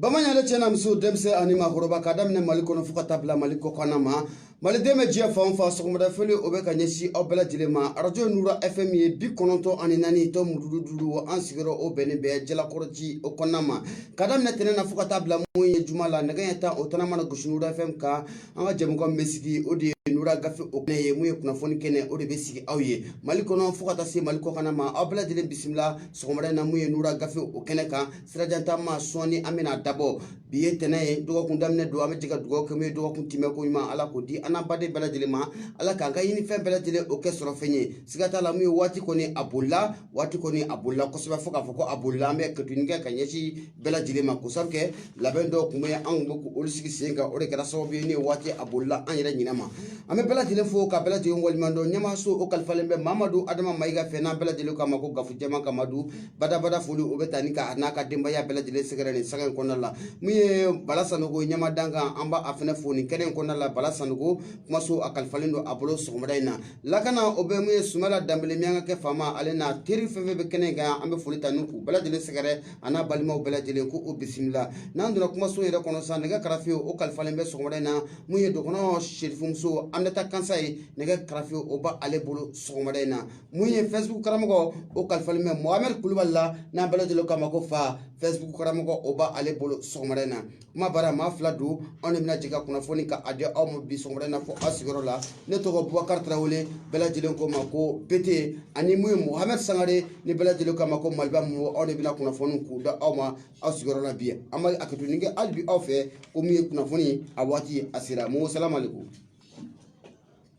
Bamanan yɛrɛ cɛ na muso denmisɛn ani maakɔrɔba ka daminɛ mali kɔnɔ fo ka taa bila mali kɔkana ma maliden bɛ diɲɛ fan o fan sɔgɔmada foli o bɛ ka ɲɛsin aw bɛɛ lajɛlen ma arajo nura fm ye bi kɔnɔntɔn ani naani tomi duuru duuru an sigiyɔrɔ o bɛnnen bɛ jalakɔrɔji o kɔnɔna ma ka daminɛ tɛnɛn na fo ka taa bila mun ye juma la nɛgɛ ɲɛ tan o tan a mana gosi nura fm kan an ka jɛmukan bɛ sigi o de ye nura gafe o kɛnɛ ye mun ye kunnafoni kɛnɛ o de bɛ sigi aw ye mali kɔnɔ fo ka taa se mali kɔkana ma aw bɛɛ lajɛlen bisimila sɔgɔmada in na mun ye nura gafe o kɛnɛ kan sirajan taama sɔɔni an bɛn'a dabɔ bi ye tɛnɛn ye dɔgɔkun daminɛ don an bɛ jɛ ka dugawu kɛ min ye dɔgɔkun timɛ ko ɲuman ala k'o di an n'an baden bɛɛ lajɛlen ma ala k'an ka ɲini fɛn bɛɛ lajɛlen o kɛ sɔrɔ fɛn ye siga t'a la min ye waati kɔni a bolila waati kɔni a bolila kosɛbɛ fo k'a fɔ ko a bolila an bɛ hakɛto ɲini kɛ ka ɲɛsin bɛɛ lajɛlen ma ko sabu kɛ labɛn dɔw tun bɛ yen anw bɛ k'olu sigi sen kan o de kɛra sababu ye min ye waati a bolila an yɛrɛ ɲinɛma an bɛ bɛɛ lajɛlen fo ka bɛɛ lajɛlen waleɲuman dɔn ɲɛmaaso o kalifalen bɛ mamadu adama mayiga fɛ n'an bɛɛ lajɛlen k'a ma ko kafo jama ka madu badabada foli o bɛ taa ni ka a n'a ka denbaya bɛɛ lajɛlen sɛgɛrɛ nin sanga in kɔnɔna la min ye bala sanogo ɲɛmaa dankan an b'a a fɛnɛ fo nin kɛnɛ in kɔnɔna la bala sanogo kumaso a kalifalen don a bolo sɔgɔmada in na lakana o bɛ min ye sumayila danbele miyankakɛ faama ale n'a teri fɛn fɛn bɛ kɛnɛ in kan an bɛ foli ta ni k'u bɛɛ lajɛlen sɛgɛrɛ a n'a balimaw bɛɛ lajɛlen ko o bisimila n'an donna kumaso yɛrɛ kɔnɔ sisan nɛgɛ karafe o kalifalen bɛ sɔgɔmada in na min ye dɔgɔnɔ serifumuso aminata kansaye nɛgɛ karafe o b'ale bolo sɔgɔmada in na mun ye fɛsibuku karamɔgɔ o kalifalen bɛ mohamɛd kulubali la n'an bɛɛ lajɛlen k'a ma ko fa fɛsibuku karamɔgɔ o b'a ale bolo sɔgɔmada in na kumabara maa fila don anw de bɛna jɛ ka kunnafoni ka a di aw ma bi sɔgɔmada in na fo aw sigiyɔrɔ la ne tɔgɔ bubakari tarawele bɛɛ lajɛlen ko ma ko bete ani mun ye mohamɛd sangare ni bɛɛ lajɛlen k'a ma ko maliba mo anw de bɛna kunnafoni k'u da aw ma aw sigiyɔrɔ la bi an bɛ hakɛto ɲini kɛ hali bi aw fɛ ko mun ye kunnafoni a waati a sera mo salamalekum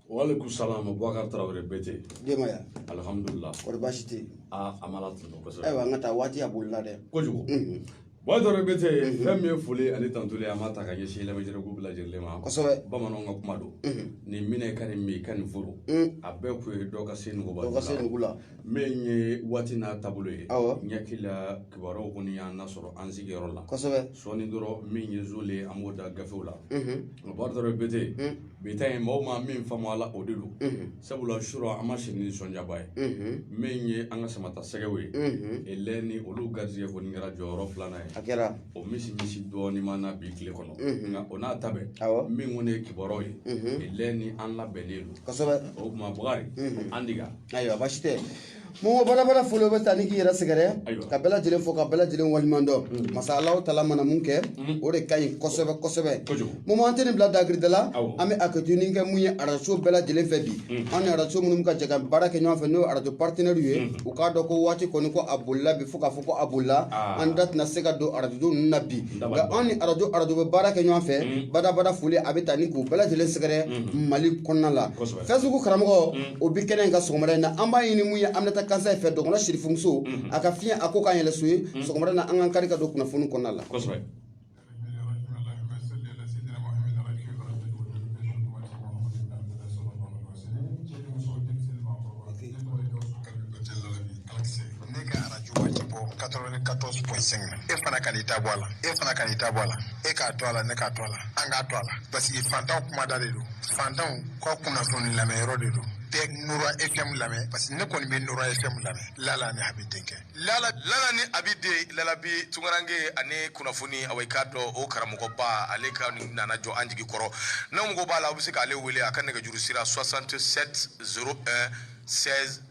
Walekum salam Bubakari Tarawele Bete. Denbaya? Alihamudulila. Kɔri baasi tɛ yen? Aa an b'Ala tanu kosɛbɛ. Ayiwa an ka taa waati a bolila dɛ. Kojugu. Unhun. Bubakari Tarawele Bete fɛn min ye foli ani tantuli ye an b'a ta ka ɲɛsin lamɛnjɛkulu bɛɛ lajɛlen ma. Kosɛbɛ. Bamananw ka kuma don. Unhun. Nin minɛ i ka nin min i ka nin foro. Un! A bɛɛ kun ye dɔ ka se nugu ba la. Dɔ ka se nugu la. Min ye waati n'a taabolo ye. Awɔ. N hakili la kibaruyaw kɔni y'an lasɔrɔ an sigiyɔrɔ la. Kosɛbɛ. Sɔɔnin dɔrɔn min ye zon ye an b'o da gafew la. Unhun. Bubakari Tarawele Bete. Un! bi ta in maaw ma min faamu a la o de don sabula sura an ma si ni nisɔndiyaba ye min ye an ka samatasɛgɛw ye elɛ ni olu garisɛgɛ kɔni kɛra jɔyɔrɔ filanan ye a kɛra o misimisi dɔɔni maa na bi tile kɔnɔ nka o n'a ta bɛɛ min kɔni ye kibaruyaw ye elɛ ni an labɛnnen don kosɛbɛ o tuma Bukari an diga ayiwa baasi tɛ Mɔmɔ badabada foli bɛ taa ni k'i yɛrɛ sɛgɛrɛ ka bɛɛ lajɛlen fɔ ka bɛɛ lajɛlen waliɲuman dɔn masa Alahu taala mana mun kɛ o de ka ɲi kosɛbɛ kosɛbɛ Mɔmɔ an tɛ nin bila dakirida la an bɛ hakɛtoni kɛ mun ye arajo bɛɛ lajɛlen fɛ bi an ni arajo minnu bɛ ka jɛ ka baara kɛ ɲɔgɔn fɛ n'o ye arajo paritɛnɛriw ye u k'a dɔn ko waati kɔni ko a bolila bi fo k'a fɔ ko a bolila an da tɛna se ka don arajo ninnu na bi nka an ni arajo arajo bɛ baara kɛ ɲɔgɔn fɛ badabada foli a bɛ taa ni k'u bɛɛ lajɛlen sɛgɛrɛ Mali kɔnɔna la. Facebook karamɔgɔ o bɛ kɛnɛ in kan sɔgɔmada in na an b'a ɲini mun ye an bɛna taa kansa fɛ dɔgɔn sirifumuso a ka fiɲɛ a ko ka yɛlɛso ye sɔgɔmada in na an k'an kari ka don kunnafoni kɔnɔna la ne ka arajo a ti bɔ 94.5 e fana kan'i ta bɔ a la e fana kan'i ta bɔ a la e k'a to a la ne k'a to a la an k'a to a la parce que fantanw kumada de don fantanw ka kunnafoni lamɛnyɔrɔ de don bɛɛ nura fm lamɛn parce que ne kɔni bɛ nura fm lamɛn lala ni abi denkɛ lala lala ni abi de lalabi tunkaranke ani kunnafoni awa i k'a dɔn o karamɔgɔba ale kɔni nana jɔ an jigi kɔrɔ n'aw mago b'a la aw bɛ se k'ale wele a ka nɛgɛjuru sira 67 01 16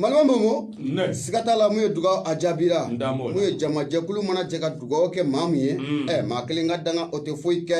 Malama Mɔmɔ siga t'a la mun ye dugaw a jaabira mun ye jamajɛkulu mana jɛ ka dugaw kɛ maa min ye maa kelen ka danga o tɛ foyi kɛ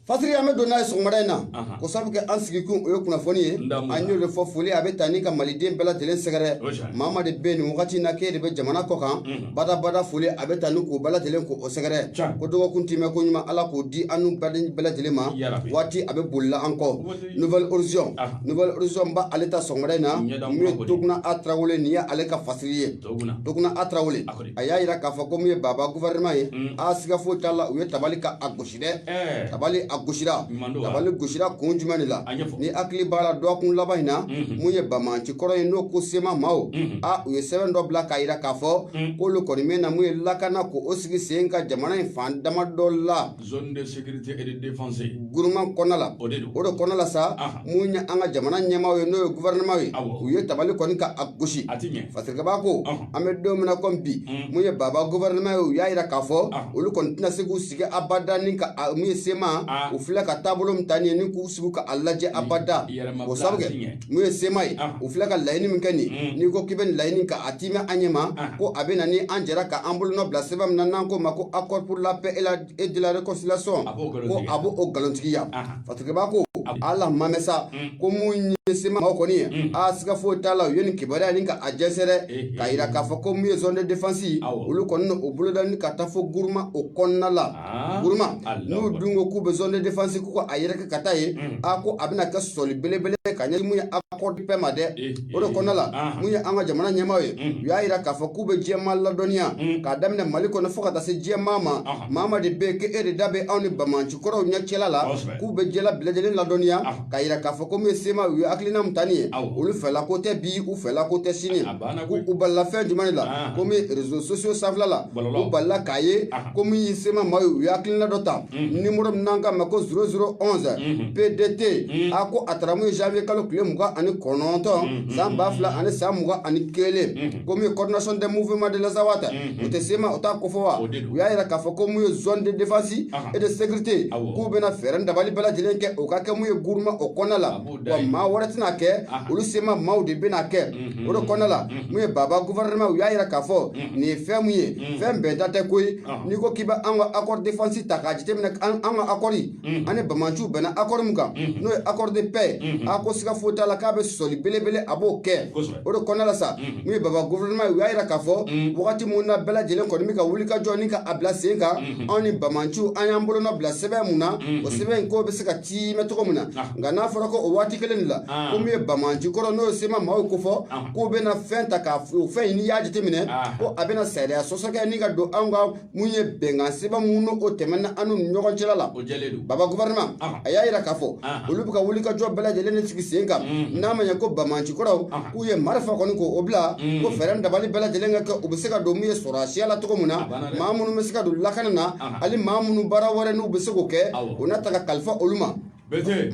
fasiri an bɛ don n'a ye sɔgɔmada in na ko sabu kɛ an sigikun o ye kunnafoni ye an y'o de fɔ foli a bɛ taa ni ka maliden bɛɛ lajɛlen sɛgɛrɛ maa min de bɛ nin wagati na k'e de bɛ jamana kɔ kan badabada foli a bɛ taa ni k'u bɛɛ lajɛlen ko o sɛgɛrɛ ko dɔgɔkun tɛmɛn ko ɲuman ala k'o di an n'u bɛɛ lajɛlen ma waati a bɛ bolila an kɔ Nouvel Horizon Aha. Nouvel Horizon ba ale ta sɔgɔmada in na Ɲɛda mun ye kura kɔni. Toguna A Tarawele nin ye ale ka fasiri ye Toguna. Toguna A Tarawele A kɔni. a y'a jira k'a fɔ ko mun ye Baba gouvernement ye Mm. a siga foyi t'a la u ye tabali ka a gosi dɛ Ɛɛ. tabali a gosira Ɲuman don wa? tabali gosira kun jumɛn de la A ɲɛfɔ. n'i hakili b'a la dɔgɔkun laban in na Mhm. mun ye bamanci kɔrɔ ye n'o ko sema maaw Mhm. a u ye sɛbɛn dɔ bila k'a jira k'a fɔ Mm. k'olu kɔni bɛ na mun ye lakana ko o sigi sen ka jamana in fan dama dɔ la zone de sécurité et de défense gouvernement kɔnɔna la o de don o de kɔnɔna la sa mun ye an ka jamana ɲɛmaaw ye n'o ye gouvernement ye u ye tabali kɔni ka a gosi a ti ɲɛ fasirikɛba ko an bɛ don min na comme bi mun ye baba gouvernement ye u y'a yira k'a fɔ olu kɔni tɛna se k'u sigi abada ni ka mun ye sema u filɛ ka taabolo min ta nin ye ni k'u sigi ka a lajɛ abada o sabu kɛ mun ye sema ye u filɛ ka laɲini min kɛ nin n'i ko k'i bɛ nin laɲini ka a timɛ an ɲɛ ma ko a bɛ na ni an jɛra ka an bolonɔ bila sɛbɛn min na n'an k'o ma ko accord pour la paix et la et de la réconciliation ko a b'o o nkalontigiya fasirikɛba ko ala mamɛ sa ko mun ye sema maaw kɔni ye a siga foyi t'a la u ye nin kibaruya ni ka a jɛnsɛn dɛ k'a jira k'a fɔ ko mun ye zone de défense olu kɔni o boloda ni ka taa fo guruma o kɔnɔna la Guruma n'u dun ko k'u bɛ zone de défense k'u ka a yɛrɛkɛ ka taa yen, unhun, a ko a bɛna kɛ sɔsɔli belebele ye ka ɲɛsin min ye accord de paix ma dɛ, ee, ee, o de kɔnɔna la, anhan, min ye an ka jamana ɲɛmaaw ye, unhun, u y'a yira k'a fɔ k'u bɛ diɲɛ maa ladɔnniya, unhun, k'a daminɛ Mali kɔnɔ fo ka taa se diɲɛ maa ma, anhan, maa o maa de bɛ yen k'e de da bɛ anw ni bamaci kɔrɔw ɲɛ cɛla la, kosɛbɛ, k'u bɛ diɲɛ bɛɛ lajɛlen ladɔnniya, anhan k'a yira k'a fɔ ko min ye sema u ye hakilina min ta nin ye olu fɛla ko tɛ bi u fɛla ko tɛ sini ko u balila fɛn jumɛn de la ko min ye réseaux sociaux sanfɛla la u balila k'a ye ko min ye sema maaw ye u ye hakilina dɔ ta numéro min n'an k'a ma ko 0011 pdt a ko a tara mun ye janvier kalo tile mugan ani kɔnɔntɔn san ba fila ani san mugan ani kelen ko min ye coordination des mouvements de l'Azawad o tɛ sema o t'a kofɔ wa u y'a yira k'a fɔ ko mun ye zone de défense et de sécurité k'u bɛna fɛɛrɛ dabali bɛɛ lajɛlen kɛ o ka kɛ mun ye guruma o kɔnɔna la wa maa wɛrɛ tɛna kɛ olu sema maaw de bɛna kɛ o de kɔnɔna la mun ye baba gouvernement u y'a yira k'a fɔ nin ye fɛn mun ye fɛn bɛnta tɛ koyi n'i ko k'i bɛ an ka accord défense ta k'a jateminɛ an ka accord ani bamanciw bɛnna accord mun kan n'o ye accord de paix a ko siga foyi t'a la k'a bɛ sɔsɔli belebele a b'o kɛ o de kɔnɔna la sa min ye baba gouvernement ye u y'a yira k'a fɔ wagati min na bɛɛ lajɛlen kɔni bɛ ka wuli ka jɔ ni ka a bila sen kan anw ni bamanciw an y'an bolonɔ bila sɛbɛn mun na o sɛbɛn in k'o bɛ se ka tiimɛ cogo min na nka n'a fɔra ko o waati kelen de la ko min ye bamanci kɔrɔ n'o ye sema maaw kofɔ k'u bɛna fɛn ta k'a o fɛn in n'i y'a jateminɛ ko a bɛna sariya sɔsɔ kɛ ni ka don anw ka mun ye bɛnkan sɛbɛn mun n'o tɛmɛna an n'u ni ɲɔgɔn cɛla la o jɛlen don baba gouvernement Ɔhɔ. a y'a yira k'a fɔ Ɔhɔ. olu bɛ ka wulikajɔ bɛɛ lajɛlen de sigi sen kan Mhm. n'a ma ɲɛ ko bamanci kɔrɔw Ɔhɔ. k'u ye marifa kɔni k'o o bila Mhm. ko fɛɛrɛ dabali bɛɛ lajɛlen ka kɛ u bɛ se ka don mun ye sɔrɔdasiya la cogo min na A banna dɛ. maa minnu bɛ se ka don lakana na Ɔhɔ. hali maa minnu baara wɛrɛ n'u bɛ se k'o kɛ Awɔ. o na ta ka kalifa olu ma Bɛɛte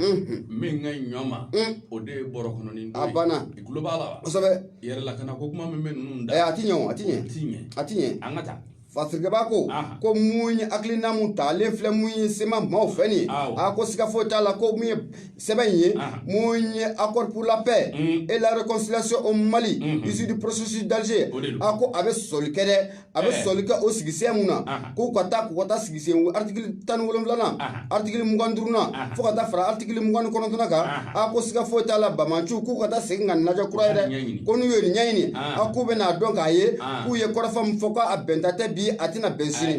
min ka ɲɔ ma o de ye bɔrɔ kɔnɔ a banna i tulo b'a la kosɛbɛ yɛrɛ lakana ko kuma min bɛ ninnu da a tɛ ɲɛ a tɛ ɲɛ tɛ ɲɛ a tɛ ɲɛ an ka taa Fasirikɛba ko ko mun ye hakilina min talen filɛ mun ye sema maaw fɛ nin ye a ko siga foyi t'a la ko mun ye sɛbɛn in ye mun ye accord pour la paix et la réconciliation au Mali issu du processus d'Alger a ko a bɛ sɔsɔli kɛ dɛ a bɛ sɔsɔli kɛ o sigisen mun na k'u ka taa k'u ka taa sigisen article tan ni wolonwulanan article mugan duurunan fo ka taa fara article mugan ni kɔnɔntɔnnan kan a ko siga foyi t'a la bamaciw k'u ka taa segin k'a lajɛ kura ye dɛ ko n'u ye nin ɲɛɲini a k'u bɛn'a dɔn k'a ye k'u ye kɔrɔfɔ min fɔ k'a bɛnta tɛ bi a tɛna bɛn sini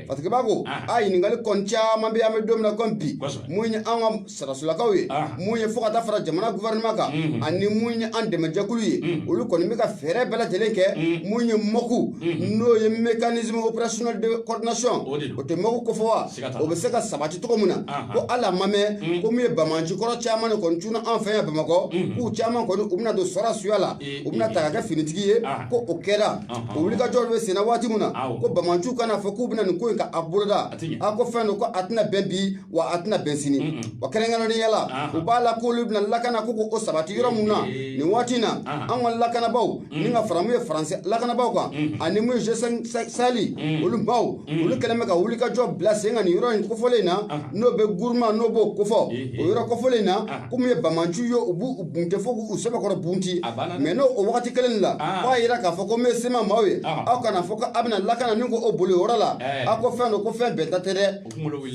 parce que baa ko a ɲininkali kɔni caman bɛ an bɛ don min na kɔmi bi mun ye an ka sarasolakaw ye mun ye fo ka taa fara jamana gouvernement kan ani mun ye an dɛmɛjɛkulu ye olu kɔni bɛ ka fɛɛrɛ bɛɛ lajɛlen kɛ mun ye MOC n'o ye mécanisme opérationnel de coordination o tɛ MOC kofɔ wa o bɛ se ka sabati cogo min na ko hali a ma mɛn ko min ye banbaanci kɔrɔ caman de kɔni cunna an fɛ yan Bamakɔ k'u caman kɔni u bɛna don sɔrɔdasiya la u bɛna ta ka kɛ finitigi ye ko o kɛra o wulikajɔ bɛ senna waati min na ko banbaanciw kana fɔ k'u bɛna nin ko in ka a boloda a ko fɛn don ko a tɛna bɛn bi wa a tɛna bɛn sini wa kɛrɛnkɛrɛnnenya la u b'a la k'olu bɛna lakana ko sabati yɔrɔ min na nin waati in na an ka lakanabaaw ni ka fara mun ye faransi lakanabaaw kan ani mun ye G5 Sahel olu maaw olu kɛlen bɛ ka wulikajɔ bila sen kan nin yɔrɔ in kofɔlen in na n'o bɛ guruma n'o b'o kofɔ o yɔrɔ kofɔlen in na ko mun ye banbaanciw ye u b'u bunte fo k'u sɛbɛkɔrɔ bunte mais n'o o wagati kelen la fo a yira k'a fɔ ko mun ye CMA maaw ye aw kana fɔ ko a bɛna lakana ni ko o boli yɔrɔ la aw ko fɛn don ko fɛn bɛɛ ta tɛ dɛ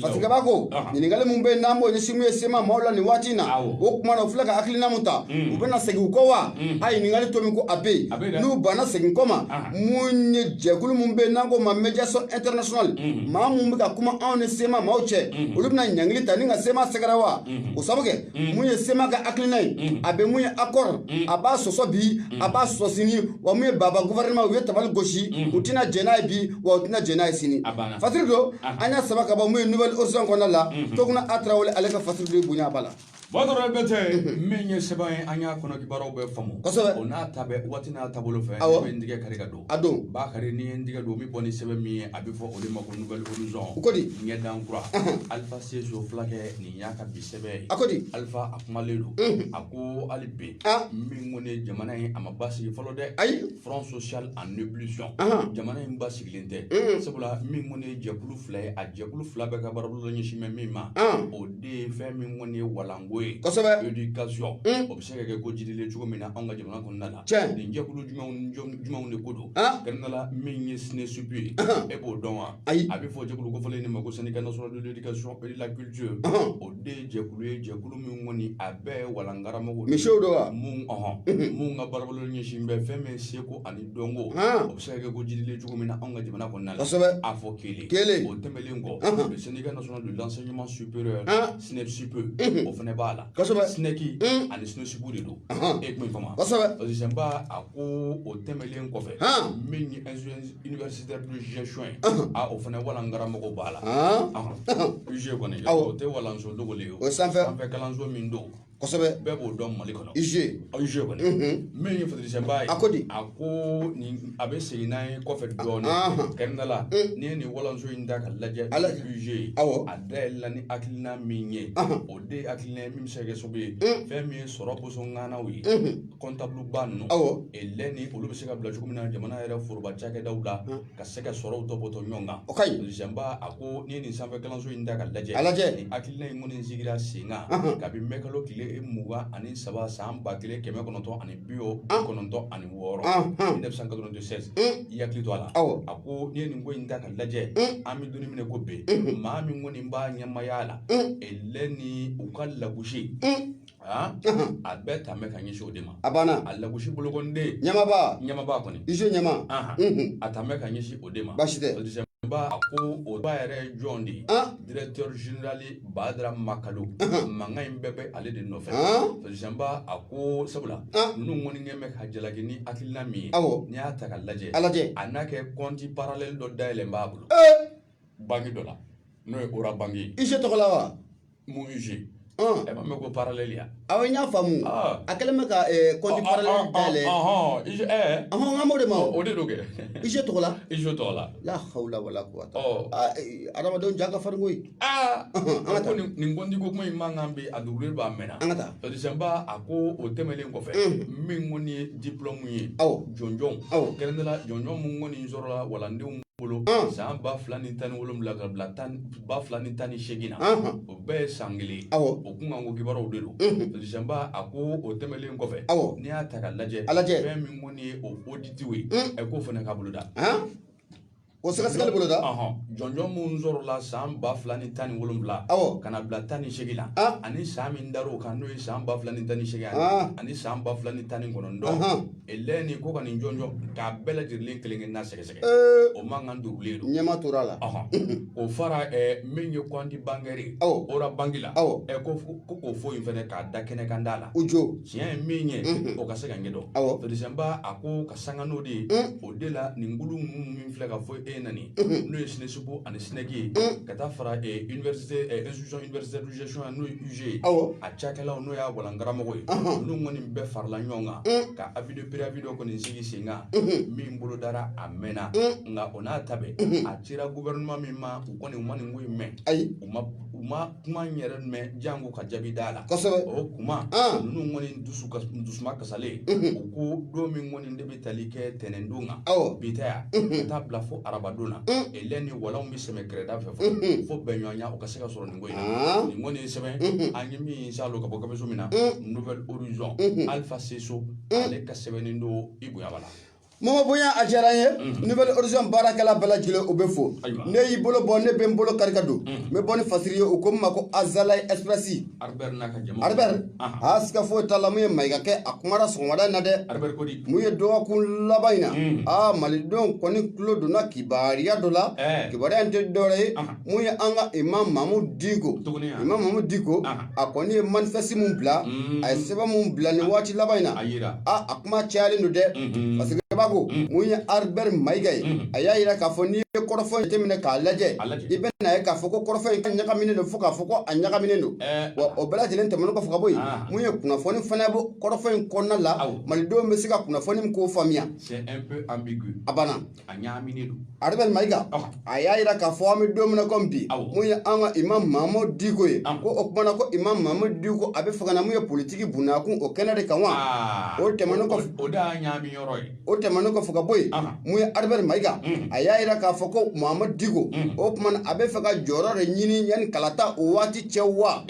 parce que b'a ko ɲininkali min bɛ yen n'an b'o ɲɛsin min ye CMA maaw la nin waati in na o tuma na u filɛ ka hakilina min ta mm. u bɛna segin u kɔ wa mm. a ɲininkali tɔ min ko a bɛ yen n'u banna segin kɔ ma mun ye jɛkulu min bɛ yen n'an ko ma médiation internationale mm. maa mun bɛ ka kuma anw ni CMA maaw cɛ olu bɛna ɲangili ta ni ka CMA sɛgɛrɛ wa o sabu kɛ mun ye CMA ka hakilina ye a bɛ mun ye accord a b'a sɔsɔ bi a b'a sɔsɔ sini wa min ye baba gouvernement u ye tabali gosi mhm. u tɛna jɛn n'a ye bi wa u tɛna jɛn n'a ye sini fasiri don an y'a saba ka bɔ mun ye Nouvel Horizon kɔnɔna la mhm. Tougouna a tarawele ale ka fasiri don bonya b'a la Badara bɛ tɛ mhm. min ye sɛbɛn ye an y'a kɔnɔ kibaruyaw bɛɛ faamu kosɛbɛ o n'a ta bɛ waati n'a taabolo fɛ ne bɛ n tigɛ kari ka don a don Bakari ni ye n tigɛ don min bɔ ni sɛbɛn min ye a bɛ fɔ o de ma ko Nouvel Horizon u ko di ɲɛdan kura Alpha C Sow fulakɛ nin y'a ka bi sɛbɛn a ko di Alpha a kumalen don mhm. a ko hali bi ah. min kɔni jamana in a ma basigi fɔlɔ dɛ ayi front social en ébullition jamana in basigilen tɛ mhm. sabula min kɔni jɛkulu fila ye a jɛkulu fila bɛɛ ka baarabolo ɲɛsin bɛ min ma ah. o de ye fɛn min kɔni walanko ye kosɛbɛ éducation mhm. o bɛ se ka kɛ ko jidilen cogo min na anw ka jamana kɔnɔna la tiɲɛ nin jɛkulu jumɛnw jumɛnw de ko don ah. kɛrɛnkɛrɛnnenya la min ye SNESUP ye e b'o dɔn wa ayi a bɛ fɔ jɛkulu kofɔlen de ma ko syndicat national de l'éducation et de la culture o de jɛkulu ye jɛkulu min kɔni a bɛɛ walankaramɔgɔ misiw don wa minnu ka baarabolo ɲɛsin bɛ fɛn min seko ani dɔnko o bɛ se ka kɛ ko jidilen cogo min na anw ka jamana kɔnɔna la kosɛbɛ a fɔ kelen kelen o tɛmɛlen kɔ le syndicat national de l'enseignement supérieur SNESUP o fana b'a la kosɛbɛ SNEC ani SNESUP de don e kuma in faamu kosɛbɛba a ko o tɛmɛlen kɔfɛ min Université de gestion ye, ɔnhɔn, a o fana walankaramɔgɔ b'a la, an, ɔnhɔn, UG kɔni, awɔ, o tɛ walanso dogolen ye, o ye sanfɛ, sanfɛ kalanso min don, kosɛbɛ, bɛɛ b'o dɔn Mali kɔnɔ, UG, UG kɔni, unhun, min ye fitirisɛmba ye, a ko di, a ko nin a bɛ segin n'a ye kɔfɛ dɔɔnin, anhan, kɛrɛnkɛrɛnnenya la, n'i ye nin walanso in ta ka lajɛ, a lajɛ, UG ye, awɔ, a dayɛlɛla ni hakilina min ye, ɔnhɔn, o de ye hakilina ye min bɛ se ka kɛ sababu ye, un, fɛn min ye sɔrɔ bɔnsɔn ŋanaw ye, unhun. kɔntabuluba ninnu Elɛni olu bɛ se ka bila cogo min na jamana yɛrɛ foroba cakɛdaw la ka se ka sɔrɔw tɔpɔtɔ ɲɔgɔn kan o ka ɲi peresidanba a ko n'i ye nin sanfɛ kalanso in ta ka lajɛ lajɛ nin hakilina in kɔni sigira sen kan kabi mɛkalo tile mugan ani saba san ba kelen kɛmɛ kɔnɔntɔn ani bi kɔnɔntɔn ani wɔɔrɔ mille neuf cent quatre-vingt-seize i hakili to a la awɔ a ko n'i ye nin ko in ta ka lajɛ an bɛ don min na i ko bi maa min kɔni b'a ɲɛmaaya la Elɛni u ka lagosi Aa a bɛɛ ta bɛ ka ɲɛsin o de ma a banna a lagosi bolokɔnden ɲɛmaaba ɲɛmaaba kɔni UG ɲɛmaa a ta bɛ ka ɲɛsin o de ma basi ko o ba yɛrɛ jɔn de ye directeur général Badara Makalu mankan in bɛɛ bɛ ale de nɔfɛ peresidanba a ko sabula ninnu kɔni kɛ bɛ ka jalaki ni hakilina min ye awɔ n'i y'a ta ka lajɛ ala a n'a kɛ kɔnti paralɛli dɔ dayɛlɛlen b'a bolo banki dɔ la n'o ye ora banki ye UG tɔgɔ la wa mun UG e m'a mɛn ko paralɛli ya awɔ n y'a faamu a kɛlen bɛ ka kɔnti paralɛli dayɛlɛ ɔhɔn n b'o de ma o de don kɛ UG tɔgɔ la UG tɔgɔ la la hawula wala kuwata adamadenw ja ka farin koyi an ka taa nin kɔnti ko kuma in mankan bi a dugulen don a mɛnna an ka taa peresidanba a ko o tɛmɛnen kɔfɛ min kɔni ye dipulɔmu ye awɔ jɔnjɔnw awɔ kɛrɛnkɛrɛnnenya la jɔnjɔn minnu kɔni sɔrɔla walandenw bolo san ba fila ni tan ni wolonwula ka bila ba fila ni tan ni seegin na o bɛɛ ye san kelen o kunkanko kibaruyaw de don peresidanba a ko o tɛmɛnlen kɔfɛ n'i y'a ta ka lajɛ fɛn min kɔni ye o oditiw ye ɛ k'o fana ka boloda o sɛgɛsɛgɛli boloda jɔnjɔn minnu sɔrɔla san ba fila ni tan ni wolonwula ka na bila tan ni seegin na ani san min dar'o kan n'o ye san ba fila ni tan ni seegin ani san ba fila ni tan ni kɔnɔntɔn elɛni ko ka nin jɔnjɔn k'a bɛɛ lajɛlen kelen-kelenna sɛgɛsɛgɛ Ee, o mankan dugulen don ɲɛma tora a la Ɔhɔn. o fara ɛɛ, min ye kɔnti bankɛri ye Awɔ. ora banki la Awɔ. Ɛ, ko fo- ko k'o fɔ in fɛnɛ k'a da kɛnɛ kan da la u jo tiɲɛ ye min ye Mhm. o ka se ka ɲɛdɔn Awɔ. peresidanba a ko ka sanga n'o de ye Mm. o de la nin kulu ninnu min filɛ ka fɔ e na nin Mhm. n'o ye sinɛsupu ani sinɛki ye Mm. ka taa fara eh, université eh, institution universitaire de gestion ya n'o ye UG ye awɔ a cakɛlaw n'o y'a walankaramɔgɔ ye Ɔhɔn. olu kɔni bɛɛ farala ɲɔgɔn kan Mm. ka avis de préavis dɔ kɔni sigi sen kan min bolodara a mɛnna nka o n'a ta bɛɛ a cira gouvernement min ma u kɔni u ma nin ko in mɛn ayi u ma u ma kuma in yɛrɛ mɛn janko ka jaabi d'a la kosɛbɛ o kuma ninnu kɔni dusu kas- dusuma kasalen u ko don min kɔni de bɛ tali kɛ tɛnɛndon kan awɔ bi ta ya ka taa bila fo arabadon na lɛ ni walanw bɛ sɛmɛ kɛrɛda fɛ fo fo bɛnɲɔgɔnya o ka se ka sɔrɔ nin kɔni ye sɛbɛn an ye min saalo ka bɔ gafeso min na Nouvel Horizon alifa seso ale ka sɛbɛnnen don i bonya b'a la mɔgɔ bonya a diyara n ye Nouvel Horizon baarakɛla bɛɛ lajɛlen u bɛɛ fo ne y'i bolo bɔ ne bɛ n bolo kari ka don n bɛ bɔ ni fasiri ye u ko min ma ko Azalaï Express Albert a siga foyi t'a la mun ye Mayiga kɛ a kumara sɔgɔmada in na dɛ mun ye dɔgɔkun laban in na aa malidenw kɔni tulo donna kibaruya dɔ la kibaruya in tɛ dɔwɛrɛ ye mun ye an ka imam Mahamudu Diko imam Mahamudu Diko a kɔni ye manifeste mun bila mm. a ye sɛbɛn mun bila nin waati laban in na a a kuma cayalen don dɛ mm-hmm. fasirikɛbaa ko mm. mun ye Albert Mayiga ye mm. a y'a yira k'a fɔ n'i ye kɔrɔfɔ in jateminɛ k'a lajɛ i bɛn'a ye k'a fɔ ko kɔrɔfɔ in k'a ɲagaminen don fo k'a fɔ ko a ɲagaminen don eh. wa o bɛɛ lajɛlen tɛmɛnen kɔfɛ ka bɔ yen ah. mun ye kunnafoni fana bɔ kɔrɔfɔ in kɔnɔna la malidenw bɛ se ka kunnafoni min k'o faamuya a banna a ɲaaminen don Albert Mayiga a y'a yira k'a fɔ an bɛ don min na komi bi mun ye an ka imam Mahamudu Diko ye ko o kumana ko imam Mahamudu Diko a bɛ fɛ ka na mun ye politiki bundakun o kɛnɛ de kan wa o tɛmɛnen kɔfɛ o de y'a ɲaami yɔrɔ ye o tɛmɛnen kɔfɛ ka bɔ yen mun ye Albert Mayiga a y'a yira k'a fɔ ko Mahamudu Diko o kumana a bɛ fɛ ka jɔyɔrɔ de ɲini yanni kalata o waati cɛ wa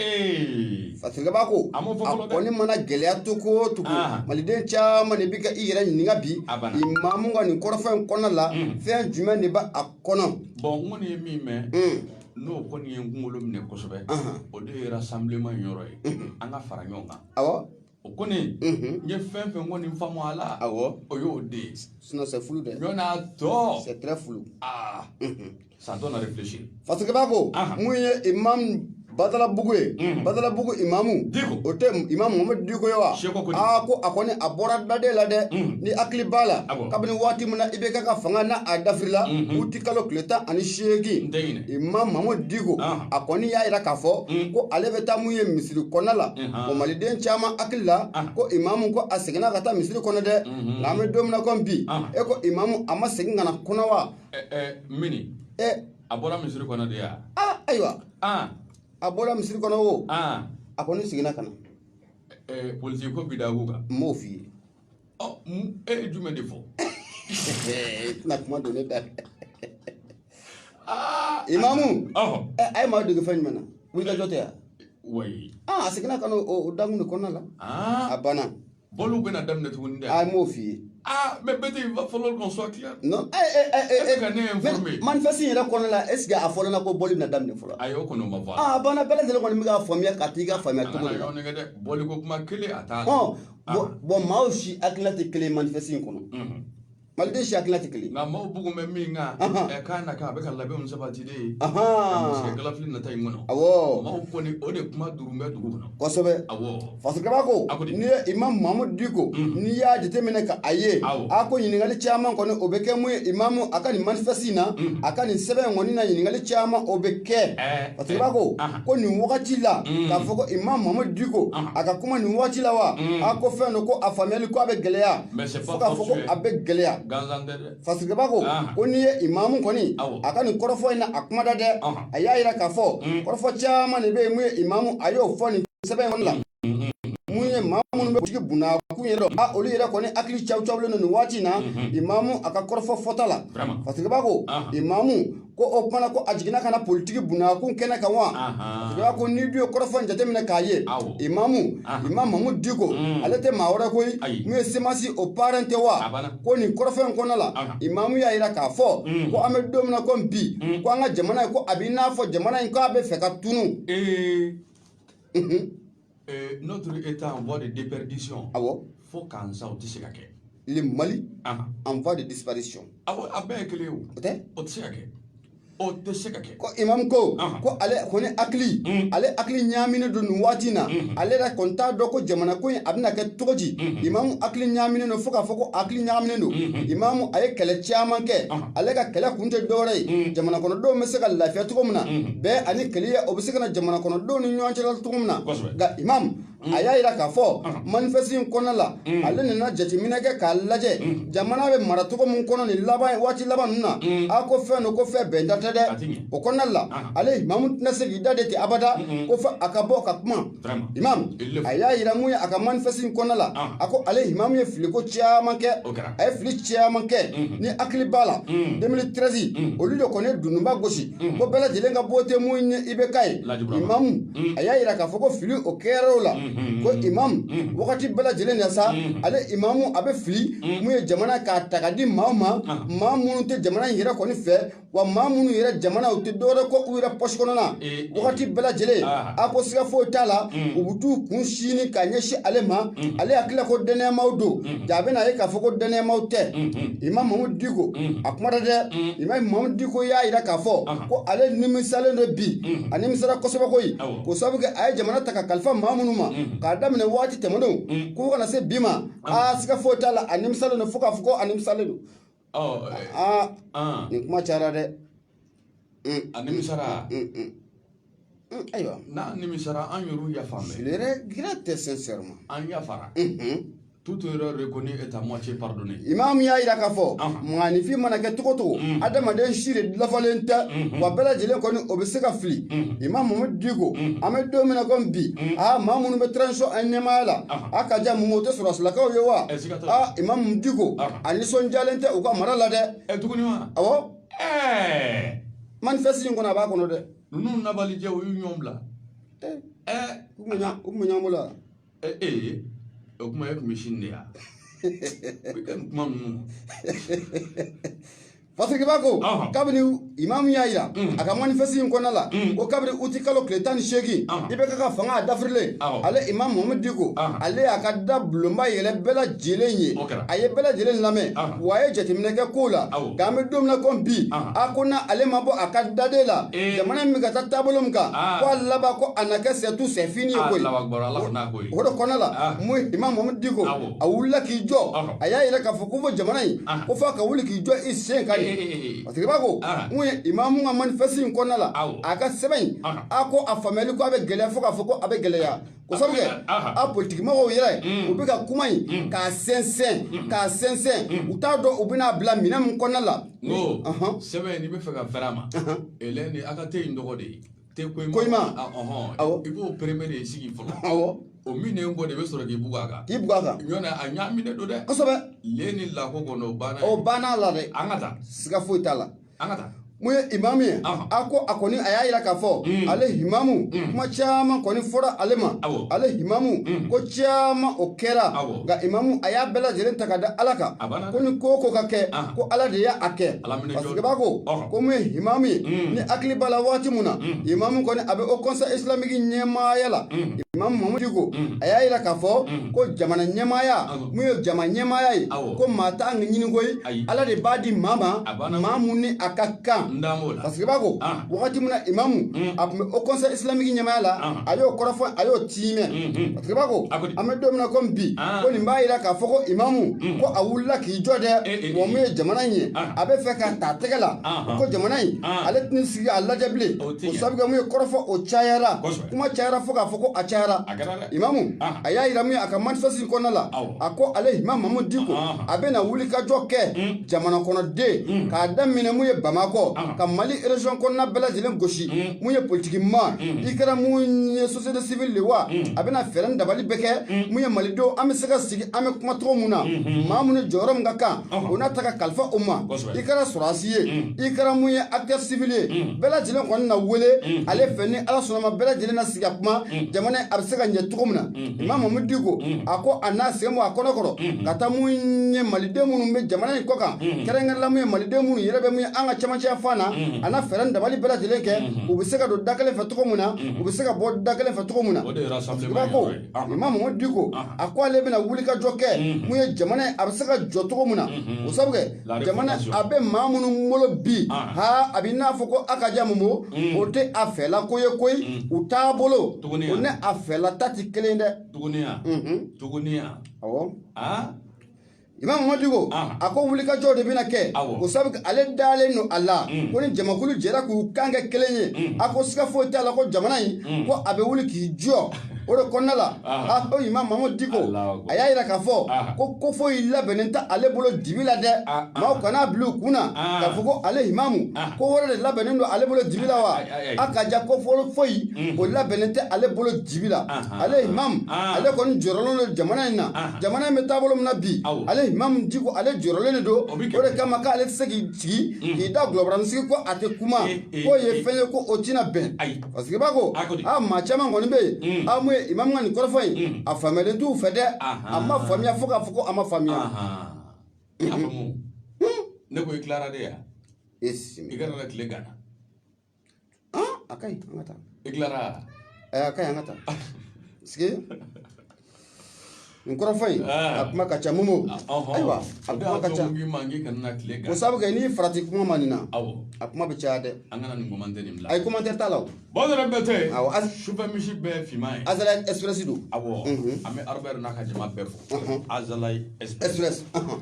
Fasirikɛbaa ko a kɔni mana gɛlɛya cogo o cogo maliden caman de bɛ ka i yɛrɛ ɲininka bi imamu ka nin kɔrɔfɔ in kɔnɔ la fɛn jumɛn de bɛ a kɔnɔ bon n kɔni ye min mɛn n'o kɔni ye n kunkolo minɛ kosɛbɛ o de ye rassemblement yɔrɔ ye an ka fara ɲɔgɔn kan o kɔni n ye fɛn fɛn kɔni faamu a la o y'o de ye sinon c'est flou dɛ ɲɔgɔn tɔ c'est flou Ça donne à réfléchir fasirikɛbaa ko mun ye imam badalabugu ye badalabugu imamu o tɛ imam Muhamadu Diko ye wa aa ko a kɔni a bɔra dadɛ la dɛ n'i hakili b'a la kabini waati min na IBK ka fanga na a dafirila uti kalo tile tan ani seegin imam Muhamadu Diko a kɔni y'a yira k'a fɔ ko ale bɛ taa mun ye misiri kɔnɔ la o maliden caman hakili la ko imamu ko a seginna ka taa misiri kɔnɔ dɛ nka an bɛ don min na komi bi e ko imamu a ma segin ka n'a kɔnɔ wa mais ni a bɔra misiri kɔnɔ de yan ayiwa a bɔra misiri kɔnɔ o a kɔni seginna ka na politiki bundakun kan n b'o f'i ye e ye jumɛn de fɔ tɛna kuma don ne da imamu a ye maa dege fɛn jumɛn na wulikajɔ tɛ yan a seginna ka na o dankun de kɔnɔna la a banna Bɔli bɛna daminɛ tuguni dɛ a m'o f'i ye aa mais peut-être il va falloir qu'on soit clair non e e e e e ka ne informer manifeste yɛrɛ kɔnɔna la est ce que a fɔra a la ko bɔli bɛna daminɛ fɔlɔ ayi o kɔni ma fɔ a banna bɛɛ lajɛlen kɔni bɛ k'a faamuya ka t'i ka faamuya cogo de la nɛgɛ dɛ bɔli ko kuma kelen a t'a bon bon maaw si hakilina tɛ kelen manifeste in kɔnɔ maliden si hakilina tɛ kelen nka maaw bugun bɛ min kan Ahan. ɛ k'a na k'a bɛ ka labɛnw sabati de ka ɲɛsin kalafili nata in kɔnɔ awɔ maaw kɔni o de kuma duuru bɛ dugu kɔnɔ kosɛbɛ awɔ fasikaba ko A ko di? n'i ye imam mahamadu diko n'i y'a jateminɛ ka a ye Awɔ. a ko ɲininkali caman kɔni o bɛ kɛ mun ye imamu a ka nin manifeste in na a ka nin sɛbɛn in kɔni na ɲininkali caman o bɛ kɛ Ɛɛ, fasikaba ko ɛɛ, ahan. ko nin wagati la k'a fɔ ko imam mamadu diko a ka kuma nin wagati la wa a ko fɛn don ko a faamuyali ko a bɛ gɛlɛya fo k'a fɔ ko a bɛ gɛlɛya fasikaba ko ko n'i ye imamu kɔni a ka nin kɔrɔfɔ in na a kuma da dɛ a y'a yira k'a fɔ kɔrɔfɔ caman de bɛ yen mun ye imamu a y'o fɔ nin sɛbɛn in kɔni la mun ye maa minnu bɛ politiki bunnakun yɛrɛ dɔn olu yɛrɛ kɔni hakili cawucawulen don nin waati in na imamu a ka kɔrɔfɔ fɔta la fasikaba ko imamu Ko o tuma ko a jiginna ka na politiki bunnakun kɛnɛ kan wa jeliba ko n'i dun ye kɔrɔfɔ in jateminɛ k'a ye imamu imam mamadu diko ale tɛ maa wɛrɛ koyi mun ye semasi o parrain tɛ wa ko nin kɔrɔfɔ in kɔnɔna la imamu y'a yira k'a fɔ ko an bɛ don min na ko bi ko an ka jamana ye ko a b'i n'a fɔ jamana in ko a bɛ fɛ ka tunun Euh, notre État en voie de déperdition. Ah bon Fo k'an sa, o tɛ se ka kɛ Le Mali ah. en voie de disparition. Awɔ, a bɛɛ ye kelen ye o tɛ o tɛ se ka kɛ o tɛ se ka kɛ ko imam ko ko ale kɔni hakili mm. ale hakili ɲaaminen don nin waati na mm-hmm. ale yɛrɛ kɔni t'a dɔn ko jamana ko in a bɛna kɛ cogo di mm-hmm. imamu hakili ɲaaminen don fo k'a fɔ ko hakili ɲagaminen don mm-hmm. imamu a ye kɛlɛ caman kɛ ale ka kɛlɛ kun tɛ dɔwɛrɛ ye mm. jamana kɔnɔdenw bɛ se ka lafiya cogo min na bɛɛ ani kelenya o bɛ se ka na jamana kɔnɔdenw ni ɲɔgɔn cɛ cogo min na nka imam a y'a yira k'a fɔ manifeste in kɔnɔna la ale nana jateminɛ kɛ k'a lajɛ jamana bɛ mara cogo min kɔnɔ nin waati laban ninnu na a ko fɛn don ko fɛn bɛnta tɛ dɛ o kɔnɔna la ale imamu tɛna se k'i da de ten abada ko fo a ka bɔ ka kuma imam a y'a yira mun ye a ka manifeste in kɔnɔna la a ko ale imamu ye filiko caman kɛ a ye fili caman kɛ n'i hakili b'a la 2013 olu de kɔni ye dununba gosi Mm. ko bɛɛ lajɛlen ka wote mun ye IBK ye imamu mm. a y'a yira k'a fɔ ko fili o kɛra o la mm-hmm. ko imamu mm. wagati bɛɛ lajɛlen na sa mm-hmm. ale imamu a bɛ fili mun ye jamana k'a ta ka di maaw ma ah. maa minnu tɛ jamana in yɛrɛ kɔni fɛ wa maa minnu yɛrɛ jamana u tɛ dɔwɛrɛ kɔ u yɛrɛ pɔsi kɔnɔna eh, eh. wagati bɛɛ lajɛlen ah. a ko siga foyi t'a la u bɛ t'u kun sini ka ɲɛsin ale ma ale hakilila ko dannayamaaw don jaa a bɛna ye k'a fɔ ko dannayamaaw tɛ imam mamudu diko a kumana dɛ imam mamudu diko y'a yira k'a fɔ ko ale nimisalen don bi a nimisara kosɛbɛ koyi ko sabu kɛ a ye jamana ta ka kalifa maa minnu ma k'a daminɛ waati tɛmɛnenw ko fo ka na se bi ma aa siga foyi t'a la a nimisalen don fo k'a fɔ ko a nimisalen don aa nin kuma cayara dɛ a nimisara ayiwa n'a nimisara an yɛrɛw yafara je le regrette sincèrement an yafara toute erreur reconnue est à moitié pardonnée imam y'a yira k'a fɔ maaninfin mana kɛ cogo cogo adamaden si de lafalen tɛ wa bɛɛ lajɛlen kɔni o bɛ se ka fili imam mamudu diko an bɛ don min na komi bi aa maa minnu bɛ transition in ɲɛmaaya la a ka jan mun o tɛ sɔrɔdasilakaw ye wa aa imam diko a nisɔndiyalen tɛ u ka mara la dɛ tuguni wa awɔ ɛɛ manifeste in kɔnɔ a b'a kɔnɔ dɛ ninnu nabalijɛ u y'u ɲɔgɔn bila Eh, ɛɛ u kun bɛ ɲa- u kun bɛ ɲɔgɔn bolo wa ee ee o kuma e tun bɛ sini de ya i ka nin kuma ninnu parce que i b'a ko Ɔhɔn. kabini imamu y'a yira Mm. a ka manifeste in kɔnɔna la Mm. ko kabiri uti kalo tile tan ni seegin Ɔhɔn. IBK ka fanga a dafirilen Awɔ. ale imamu mohamadu diko Ɔhɔn. ale y'a ka da bulonba yɛlɛ bɛɛ la j ye a ye bɛɛ lajɛlen lamɛn wa a ye jateminɛ kɛ ko la k'an bɛ don min na komi bi a ko n'ale ma bɔ a ka dade la jamana bɛ ka taa taabolo min kan ko a laban ko a na kɛ c'est tout c'est fini ye koyi o de kɔnɔ la mun imam mamudu diko a wulila k'i jɔ a y'a yira k'a fɔ ko fo jamana in ko f'a ka wuli k'i jɔ i sen kan ye parce que i b'a ko mun ye imamu ka manifeste in kɔnɔna la a ka sɛbɛn in a ko a faamuyali ko a bɛ gɛlɛya fo k'a fɔ ko a bɛ gɛlɛya ko sabu kɛ a politikimɔgɔw yɛrɛ mm. u bɛ ka kuma in mm. k'a sɛnsɛn mm. k'a sɛnsɛn u t'a dɔn u bɛna bila minɛn min kɔnɔna la n ko sɛbɛn n'i bɛ fɛ ka fɛrɛ a ma elɛn ni a ka te in dɔgɔ de ye te koyima ah, i b'o premier de sigi fɔlɔ o minnen kɔ de bɛ sɔrɔ k'i bugu a kan k'i bugu a kan ɲɔntɛ a ɲaaminen don dɛ kosɛbɛ le ni lako kɔnɔ o banna o banna la dɛ an ka taa siga foyi t'a la an ka taa mun ye imamu ye Ɔhɔn. a ko a kɔni a y'a yira k'a fɔ Mm. ale imamu Mm. kuma caman kɔni fɔra ale ma Awɔ. ale imamu Mm. ko caman o kɛra Awɔ. nka imamu a y'a bɛɛ lajɛlen ta ka da ala kan A banna ko dɛ. ni ko o ko ka kɛ Ahan. ko ala de y'a kɛ Ala minɛ jɔn. parce que i b'a ko Ɔhɔn. ko mun ye imamu ye Mm. n'i hakili b'a la waati min na Mm. imamu kɔni a bɛ o conseil islamique ɲɛmaaya la Mm. imamu mamudu diko Mm. a y'a yira k'a fɔ Mm. ko jamana ɲɛmaaya Awɔ. mun ye jama ɲɛmaaya ye ko maa t'a ɲini koyi ala de b'a di maa ma maa min ni a ka kan parce que i b'a ko wagati min na imamu a tun bɛ o conseil islamique ɲɛmaaya la a y'o kɔrɔfɔ a y'o tiimɛ parce que i b'a ko an bɛ don min na komi bi ko nin b'a yira k'a fɔ ko imamu ko a wulila k'i jɔ dɛ wa mun ye jamana in ye a bɛ fɛ k'a ta tɛgɛ la ko jamana in ale tɛna sigi a lajɛ bilen o sabu kɛ mun ye kɔrɔfɔ o cayara kuma cayara fo k'a fɔ ko a cayara Imamu a y'a yira min ye a ka manifeste kɔnɔna la a ko ale imam Mamudu Diko a bɛna wulikajɔ kɛ jamana kɔnɔ dɛ k'a daminɛ mun ye bamakɔ ka mali région kɔnɔna bɛɛ lajɛlen gosi mun ye politiki ma i kɛra mun ye société civile de wa a bɛna fɛɛrɛ ni dabali bɛɛ kɛ mun ye malidenw an bɛ se ka sigi an bɛ kuma cogo min na maa min ni jɔyɔrɔ min ka kan o n'a ta ka kalifa o ma i kɛra sɔrɔdasi ye i kɛra mun ye acteur civil ye bɛɛ lajɛlen kɔni na wele ale fɛ ni ala sɔnna ma bɛɛ lajɛlen ka kuma jamana in a bɛ se ka ɲɛ cogo min na imam Mamudu Diko a ko a n'a sen bɔ a kɔnɔ kɔrɔ ka taa mun ye maliden minnu bɛ jamana in kɔkan kɛrɛnkɛrɛnnenya la mun ye maliden minnu yɛrɛ bɛ mun ye an ka camancɛ fan na a na fɛɛrɛ ni dabali bɛɛ lajɛlen kɛ u bɛ se ka don da kelen fɛ cogo min na u bɛ se ka bɔ da kelen fɛ cogo min na ko imam Mamudu Diko a ko ale bɛna wulikajɔ kɛ mun ye jamana in a bɛ se ka jɔ cogo min na o sabu jamana a bɛ maa minnu bolo bi ah. ha a bɛ n'a fɔ ko a ka ja Momo mm. o tɛ a fɛla ko ye koyi mm. u taabolo o ni a fɛla ta tɛ kelen dɛ tuguniya mhm. tuguniya awɔ ah. imam Mamudu Diko a ko wulikajɔ de bɛna kɛ o sabu ale dalen don a la mm. ko ni jamakulu jɛra k'u kan kɛ kelen ye a ko siga foyi t'a la ko jamana in ko a bɛ wuli k'i jɔ o de kɔnɔna la o imam Mamudu Diko a y'a yira k'a fɔ ko ko foyi labɛnnen tɛ ale bolo dibi la dɛ maaw kan'a bila u kun na k'a fɔ ko ale imamu ko wɛrɛ de labɛnnen don ale bolo dibi la wa a ka ja ko foyi o labɛnnen tɛ ale bolo dibi la ale imamu ale kɔni jɔrɔlen don jamana in na jamana in bɛ taabolo min na bi ale imamu diko ale jɔrɔlen de don o de kama k'ale tɛ se k'i sigi k'i da gulɔbaranin sigi ko a tɛ kuma k'o ye fɛn ye ko o tɛna bɛn parce que i b'a ko A ko di? a maa caman kɔni bɛ yen Mm. a mun ye imam ka nin kɔrɔfɔ in Mm. a faamuyalen t'u fɛ dɛ Ahan. a ma faamuya fo k'a fɔ ko a ma faamuya Ahan. A faamu. Ne ko i tilara de ya? e si I kana na tile gana. a ka ɲi an ka taa I tilara? Ɛɛ, a ka ɲi an ka taa parce que Nin kɔrɔfɔ in a kuma ka ca Momo ayiwa a kuma ka ca o sabu kɛ n'i farati kuma ma nin na a kuma bɛ caya dɛ an kana nin kuma la ayi commentaire t'a la bamanan bɛ tɛ ali sufɛ misi bɛɛ finman ye Azalaï Express don a an bɛ Albert n'a ka jama bɛɛ fo Azalaï esp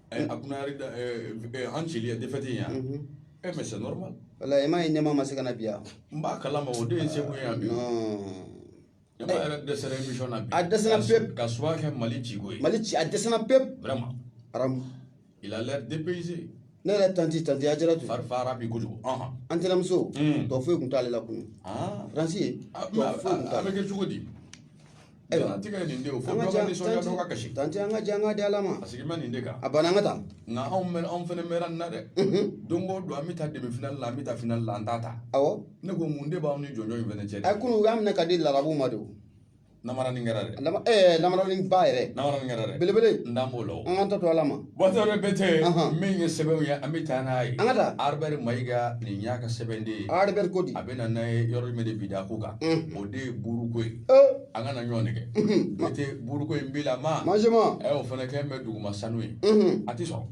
Eh, a kuna yɛrɛ da eh, eh, an cili ye défaite in yan Mhm. e mais c'est normal wala i m'a ye ɲɛma ma se ka na bi yan n b'a kalama o de ye seko ye yan bi ɲɛma yɛrɛ dɛsɛra émission na bi A dɛsɛra Ka su- pewu. ka suwa kɛ mali ciko ye mali ci a dɛsɛna pewu vraiment aramu il a l'air dépaysé ne yɛrɛ tanti tanti Ajaratu fari fara bi kojugu ɔhɔn an tɛnɛmuso Mm. tɔ foyi tun t'ale la kun Ah. faransi ye Ah, tɔ mais a- foyi tun a- a t'a bɛ la kɛ cogo di ayiwa an tigɛ nin de o fo dɔ ka nisɔndiya dɔ ka kasi tanti an ka jɛ an ka di ala ma a sigilen bɛ nin de kan a banna an ka taa nka anw mɛ anw fɛnɛ mɛnna nin na dɛ don o don an bɛ taa demi finali la an bɛ taa finali la an t'a ta awɔ ne ko mun de b'anw ni jɔnjɔn in fɛnɛ cɛ dɛ a kunu u y'a minɛ ka di larabuw ma de o namara nin kɛra dɛ ɛɛ namaranin ba yɛrɛ namara nin kɛra dɛ belebele n dan b'o la o an k'an ta to ala ma Bocar Touré Bete min ye sɛbɛnw ye an bɛ taa n'a ye Albert Mayiga nin y'a ka sɛbɛn de ye Albert ko a bɛ na n'a ye yɔrɔ min de bi da ko kan o de ye buuruko ye an kana ɲɔgɔn nɛgɛn ba tɛ buuruko in bila ma ma o fana kɛ bɛ duguma sanu ye a tɛ sɔrɔ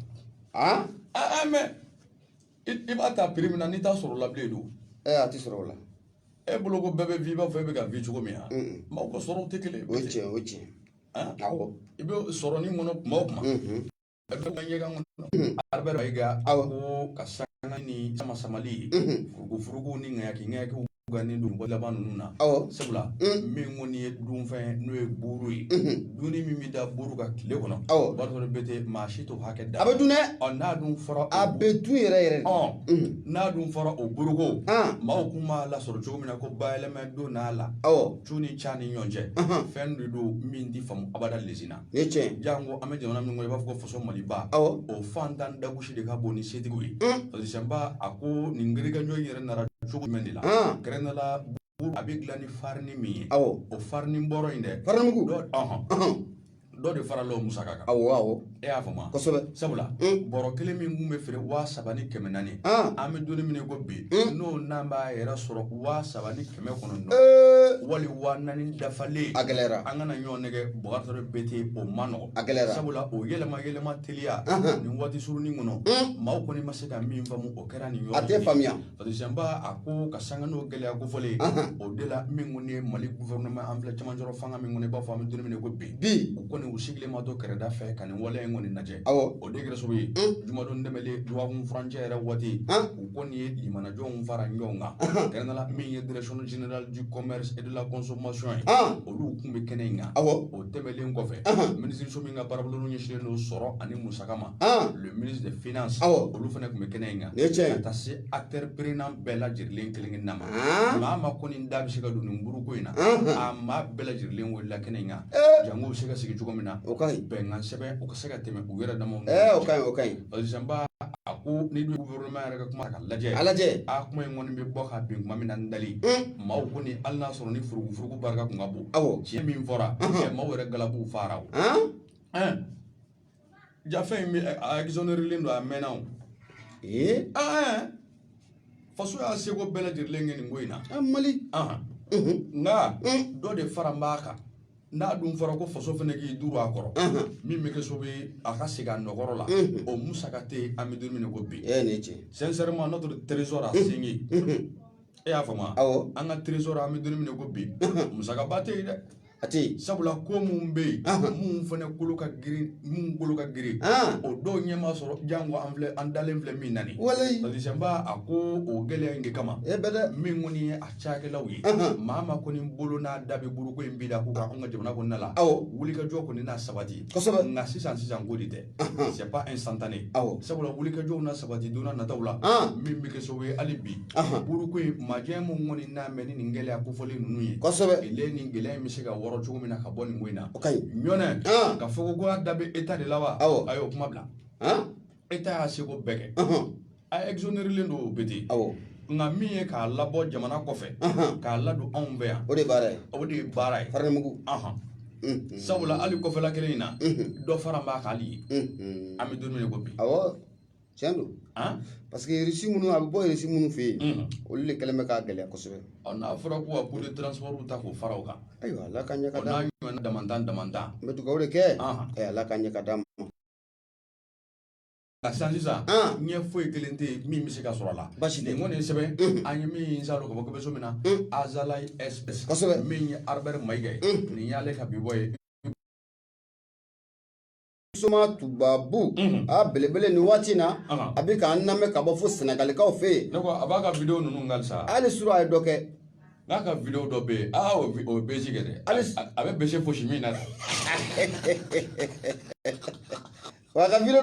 aa aa mɛ i b'a ta prix min na n'i t'a sɔrɔ la bilen don a tɛ sɔrɔ o la e bolo ko bɛɛ bɛ vi i b'a fɔ e bɛ ka vi cogo min na maaw ka sɔrɔ tɛ kelen o ye tiɲɛ o ye tiɲɛ i bɛ sɔrɔ ni kɔnɔ kuma o kuma a bɛ ɲɛgɛn kɔnɔ Albert Mayiga a ko ka sanga ni sama samali ye furuku furuku ni ŋayaki ŋayakiw gannen don dɔgɔ laban ninnu na sabula min kɔni ye dunfɛn n'o ye buuru ye dunni min bɛ da buuru kan tile kɔnɔ b'a sɔrɔ Bete maa si t'o hakɛ dɔn a bɛ dun dɛ n'a dun fɔra a bɛ dun yɛrɛ yɛrɛ n'a dun fɔra o buuruko maaw kun b'a lasɔrɔ cogo min na ko bayɛlɛma donn'a la cu ni ca ni ɲɔgɔn cɛ fɛn de don min tɛ faamu abada Lasina tiɲɛ jango an bɛ jamana min kɔnɔ i b'a fɔ ko faso maliba o fantan dagosi de ka bon ni setigiw ye parce que ba a ko nin gɛrɛgɛjɔ yɛrɛ nana cogo jumɛn de la kɛrɛnkɛrɛnnenya la a bɛ dilan ni farini min ye awɔ o farini bɔrɔ in dɛ farinimugu dɔ de farala o musaka kan awɔ awɔ e y'a faamu kosɛbɛ sabula bɔrɔ kelen min kun bɛ feere waa saba ni kɛmɛ naani an bɛ donni min ko bi n'o n'an b'a yɛrɛ sɔrɔ waa saba ni kɛmɛ kɔnɔntɔn wali waa naani dafalen a gɛlɛyara an kana ɲɔgɔn nɛgɛn Bocar Touré Bete o ma nɔgɔ a gɛlɛyara sabula o yɛlɛma yɛlɛma teliya nin waati surunin kɔnɔ maaw kɔni ma se ka min faamu o kɛra nin yɔrɔ a tɛ faamuya parce que ba a ko ka sanga n'o gɛlɛya kofɔlen o de la min kɔni ye mali gouvernement an filɛ cɛmancɛrɔ fanga min kɔnɔ i b'a fɔ an bɛ donni min ko bi u kɔni u sigilen ma to kɛrɛda fɛ ka nin waleya in kɔni lajɛ awɔ o de kɛra sababu ye jumadon tɛmɛnlen dɔgɔkun furancɛ yɛrɛ waati u kɔni ye jamanajɔ fara ɲɔgɔn kan kɛrɛnkɛrɛnnenya la min ye direction générale du commerce et de la consommation ye olu kun bɛ kɛnɛ in kan awɔ o tɛmɛnlen kɔfɛ minisiriso min ka baarabolo ɲɛsinnen don sɔrɔ ani musaka ma des finances olu fana tun bɛ kɛnɛ in kan tiɲɛ ka taa se acteurs prenants bɛɛ lajɛlen kelen na maa maa kɔni da bɛ se ka don nin buuruko in na a maa bɛɛ lajɛlen welela kɛnɛ in kan jango bɛ se ka sigi cogo min na o ka bɛnkan sɛbɛn o ka se ka tɛmɛ u yɛrɛ dama parce que ba a ko ni dun gouvernement yɛrɛ ka kuma ka lajɛ lajɛ a kuma in kɔni bɛ bɔ ka bin tuma min na dalen maaw kɔni hali n'a sɔrɔ ni furuku furuku barika tun ka bon awɔ tiɲɛ min fɔra tiɲɛ maaw yɛrɛ galabu fara o Jafɛn in bɛ a exonérelen don a mɛnna o. Ee. Ɛɛ faso y'a seko bɛɛ lajɛlen kɛ nin ko in na. A Mali. Ɔnhɔn. Unhun. Nka. Un. Dɔ de faralen b'a kan. N'a dun fɔra ko faso fana k'i duuru a kɔrɔ. Ɔnhɔn. Min bɛ kɛ sababu ye a ka segin a nɔ kɔrɔ la. Unhun. O musaka tɛ yen an bɛ don min na i ko bi. Ee nin ye tiɲɛ ye. Sincèrement notre trésor a saigné. Unhun. E y'a faamu wa? Awɔ. An ka trésor an bɛ don min na i ko bi. Unhun. Musakaba tɛ yen dɛ. A tɛ yen sabula ko minnu bɛ yen minnu fana kolo ka girin minnu kolo ka girin o dɔw ɲɛ ma sɔrɔ janko an filɛ an dalen filɛ min na nin ye walisa a ko o gɛlɛya in de kama e bɛ dɛ min kɔni ye a cakɛlaw ye maa ma kɔni bolo n'a da bɛ buruko in bi da ko kan an ka jamana kɔnɔna la wulikajɔ kɔni na sabati nka sisan sisan ko de tɛ c'est pas instantané sabula wulikajɔw na sabati don nataw la min bɛ kɛ sababu ye hali bi buruko in majɛ min kɔni nalen bɛ ni nin gɛlɛya kofɔlen ninnu ye ele nin gɛlɛya in bɛ se ka wɔrɔ cogo min na ka bɔ nin ko in na ɲɔnɛ ka fɔ ko a da bɛ état de la wa a y'o kuma bila état y'a seko bɛɛ kɛ a exonérelen don o bɛ ten awɔ nka min ye k'a labɔ jamana kɔfɛ Ahan. k'a ladon anw fɛ yan o de ye baara ye o de ye baara ye farinimugu Ahan. Mhm. sabula hali kɔfɛla kelen in na Mhm. dɔ faralen b'a kan hali ye Mhm. an bɛ don min na i ko bi awɔ tiɲɛ don han parce que irisi minnu a bɛ bɔ irisi minnu fɛ yen Mhm. olu de kɛlen bɛ k'a gɛlɛya kosɛbɛ ɔ n'a fɔra ko ka coût de transport ta k'o fara o kan ayiwa ala ka ɲɛ ka ɔ d'a n'a ma ɲɔgɔnna damantan damantan n bɛ dugawu de kɛ Ahan. ɛ ala ka ɲɛ ka d'a ma ka san sisan An. ɲɛ foyi kelen tɛ yen min bɛ se ka sɔrɔ a la Basi tɛ. nin kɔni ye sɛbɛn an ye min sɔrɔ ka bɔ kɛmɛso min na Azalaï Express Kosɛbɛ. min ye Albert Mayiga ye nin y'ale ka bibɔ ye soma tubabu a belebele nin waati in na Aha. a bɛ k'an lamɛn ka bɔ fo Senegalikaw fɛ yen ne ko a b'a ka video ninnu kan sa hali suru a ye dɔ kɛ n'a ka video dɔ bɛ yen aa o bi- o ye bezi kɛ dɛ Hali- a a bɛ bese fosi min na dɛ Wa a ka video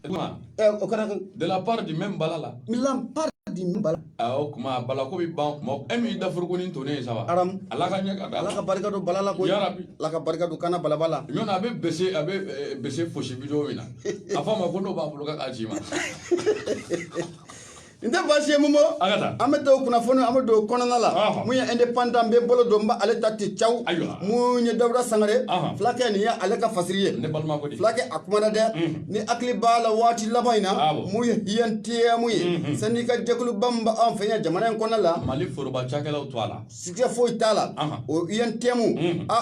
kuma eh, o kɛra de la part du même bala la mi la part du même bala ah, o kuma bala ko bi ban kuma e min dafurukunin tonnen ye saba aram ala ka ɲɛ ka da ala ka barika don bala la ko yarabi ala ka barika don kana balabala ɲɔgɔn a bɛ bese a bɛ eh, bese fosi video min na a fɔ a ma ko n'o b'a bolo k'a k'a ci n ma n tɛ baasi ye mumo A ka taa. an bɛ don kunnafoni an bɛ don kɔnɔna la Ɔhɔ. min ye Indépendant n bɛ bolo don n bɛ ale ta waati caw Ayiwa. min ye Dawuda Sangare Ɔhɔ. fulakɛ nin ye ale ka fasiri ye Ne balima ko di. fulakɛ a kumana dɛ n'i hakili b'a la waati laban in na Awɔ. min ye UNTM ye sɛndika jɛkuluba min bɛ an fɛ yan jamana in kɔnɔna la Mali foroba cakɛlaw tɔgɔ la. Siga foyi t'a la o UNTM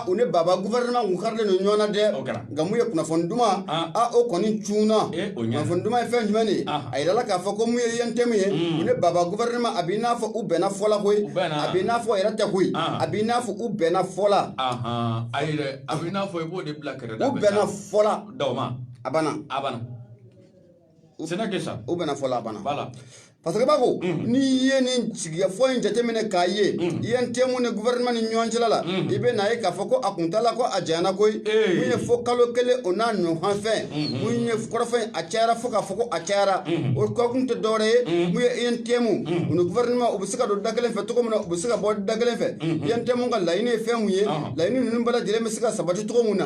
u ni baba gouvernement u karilen don ɲɔgɔn na dɛ nka mun ye kunnafoni dumanman o kɔni cunna kunnafoni dumanman ye fɛn jumɛn ye a jirala k'a fɔ ko mun ye UNTM ye u ni baba gouvernement a bɛ n'a fɔ u bɛnna fɔ la koyi a bɛ n'a fɔ yɛrɛ tɛ koyi a bɛ n'a fɔ u bɛnna fɔ la a a bɛ n'a fɔ i b'o de bila kɛrɛfɛ u bɛnna fɔ la a a sɛnɛ kɛ sa u bɛnna fɔ la a banna bala parce que b'a ko n'i ye nin sigikafɔ in jateminɛ k'a ye UNTM ni gouvernement ni ɲɔgɔn cɛla la i bɛ na ye k'a fɔ ko a kuntaala ko a janyana koyi mun ye fo kalo kelen o n'a ɲɔgɔn fɛn mun ye kɔrɔfɔ a cayara fo k'a fɔ ko a cayara o ko kun tɛ dɔwɛrɛ ye mun ye UNTM u ni gouvernement u bɛ se ka don da kelen fɛ cogo min na u bɛ se ka bɔ da kelen fɛ UNTM ka laɲini ye fɛn mun ye laɲini ninnu bɛɛ lajɛlen bɛ se ka sabati cogo mun na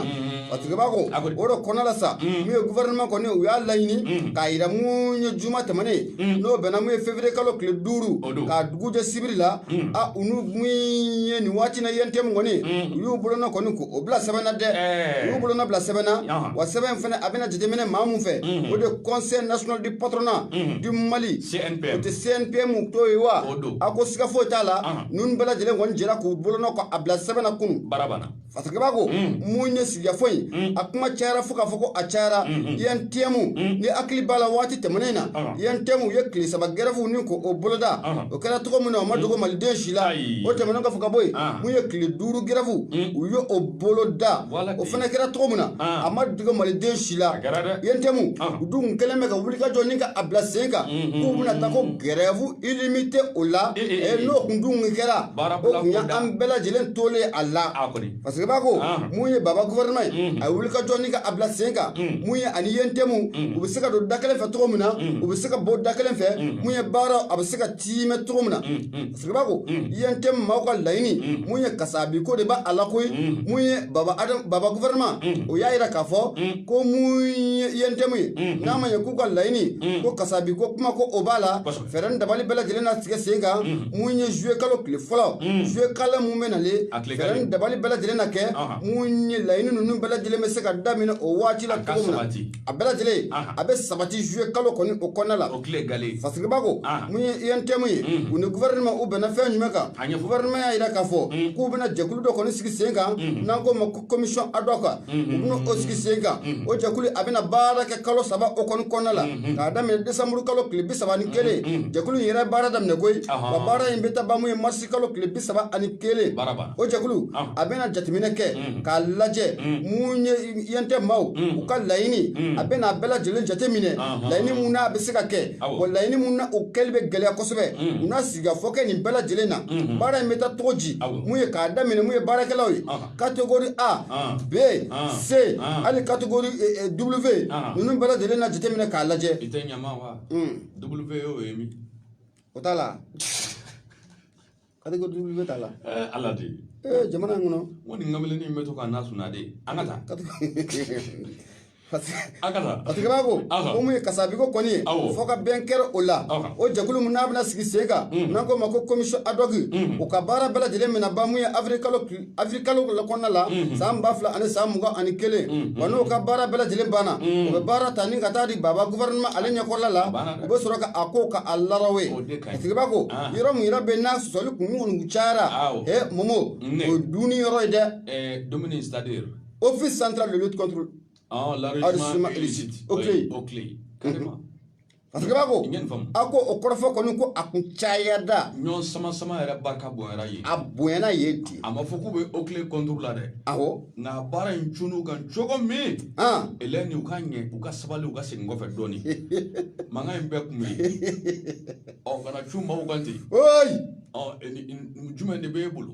Parce que b'a ko o de kɔnɔ la sa mun ye gouvernement kɔni u y'a laɲini k'a jira mun ye juma tɛmɛnen n'o bɛnna mun ye février kalo tile duuru k'a dugu jɛ sibiri la a u n'u mun ye nin waati in na UNTM kɔni u y'u bolonɔ kɔni ko o bila sɛbɛn na dɛ u y'u bolonɔ bila sɛbɛn na wa sɛbɛn in fana a bɛna jateminɛ maa min fɛ o de ye conseil national du patronat du Mali o tɛ CNPM tɔ ye wa a ko siga foyi t'a la ninnu bɛɛ lajɛlen kɔni jɛra k'u bolonɔ ko a bila sɛbɛn na kunun. Parce que b'a ko mun ye sigikafɔ in a kuma cayara fo k'a fɔ ko a cayara UNTM n'i hakili b'a la waati tɛmɛnen in na UNTM ye tile saba grève nin ko o boloda o kɛra cogo min na o ma dogo maliden si la o tɛmɛn ka fɔ ka bɔ yen mun ye tile duuru grève u ye o boloda o fana kɛra cogo min na a ma dogo maliden si la UNTM u dun kɛlen bɛ ka wulikajɔ nin ka a bila sen kan k'u bɛna taa ko grève Illimitée o la n'o tun dun kɛra o tun ye an bɛɛ lajɛlen tolen a la parce que b'a ko mun ye baba gouvernement a ye wulikajɔ nin ka a bila sen kan mun ye a ni UNTM u bɛ se ka don da kelen fɛ cogo min na u bɛ se ka bɔ da kelen fɛ mun ye baara a bɛ se ka tiimɛ cogo min na parce que b'a ko UNTM maaw ka laɲini mun ye kasabi ko de b' a la koyi mun ye baba gouvernement o y'a jira k'a fɔ ko mun ye UNTM ye n'a ma ye k'u ka laɲini ko kasabi ko kuma ko o b'a la fɛɛrɛ ni dabali bɛɛ lajɛlen na sigi sen kan mun ye zuye kalo tile fɔlɔ zuye kalo min bɛ nalen fɛɛrɛ ni dabali bɛɛ lajɛlen na kɛ mun ye laɲini ninnu bɛɛ lajɛlen bɛ se ka daminɛ o waati la cogo min na a bɛɛ lajɛlen a bɛ sabati zuye kalo kɔni o kɔnɔna la parce que b'a ko mun ye UNTM ye u ni gouvernement u bɛnna fɛn jumɛn kan gouvernement y'a jira k'a fɔ k'u bɛna jɛkulu dɔ kɔni sigi sen kan n'an k'o ma commission ad hoc u na o sigi sen kan o jɛkulu a bɛna baara kɛ kalo saba o kɔni kɔnɔna la k'a daminɛ décembre kalo tile bi saba ani kelen jɛkulu in yɛrɛ baara daminɛ koyi wa baara in bɛ taa ban mun ye mars kalo tile bi saba ani kelen o jɛkulu a bɛna jateminɛ kɛ k'a lajɛ mun ye UNTM maaw u ka laɲini a bɛna a bɛɛ lajɛlen jateminɛ laɲini mun n'a bɛ se ka kɛ wa laɲini mun na o kɛli bɛ gɛlɛya kosɛbɛ u na sigikafɔ kɛ nin bɛɛ lajɛlen na baara in bɛ taa cogo di mun ye k'a daminɛ mun ye baarakɛlaw ye catégorie A, ah. B, ah. C, ah. hali catégorie eh, eh, W ninnu bɛɛ lajɛlen na jateminɛ k'a lajɛ. I tɛ ɲama wa? Hmm. W y'o ye min? O t'a la. catégorie W t'a la. Eh, Ala de. Ee jamana in kɔnɔ. N ko nin kamalennin in bɛ to k'an na suna de. An ka taa. a tigi b'a ko ko mun ye kasabiko kɔni ye fɔ ka bɛn kɛra o la o jɛkulu min n'a bɛna sigi sen kan n'an k'o ma ko commission ad hoc u ka baara bɛɛ lajɛlen bɛna ban mun ye avril kalo kɔnɔna la san ba fila ani san mugan ani kelen wa n'o ka baara bɛɛ lajɛlen banna u bɛ baara ta ni ka taa di baba gouvernement ale ɲɛkɔrɔla la u bɛ sɔrɔ ka a ko ka a larawe a tigi b'a ko yɔrɔ min yɛrɛ bɛ n'a sɔsɔli kun kɔni cayara he momo o ye dumuni yɔrɔ ye dɛ dumuni c'est à dire Office central de lutte contre ah, l'enrichissement illicite. OCLEI. OCLEI. Carrément. Parce que b'a ko a ko o kɔrɔfɔ kɔni ko a kun cayada ɲɔgɔn sama sama yɛrɛ barika bonyana yen a bonyana yen ten a ma fɔ k'u bɛ OCLEI contre la dɛ awɔ nka baara in cun'u kan cogo min elɛn ni u ka ɲɛ u ka sabali u ka segin kɔfɛ dɔɔni mankan in bɛɛ kun bɛ yen ɔ kana cun maaw kan ten jumɛn de b'e bolo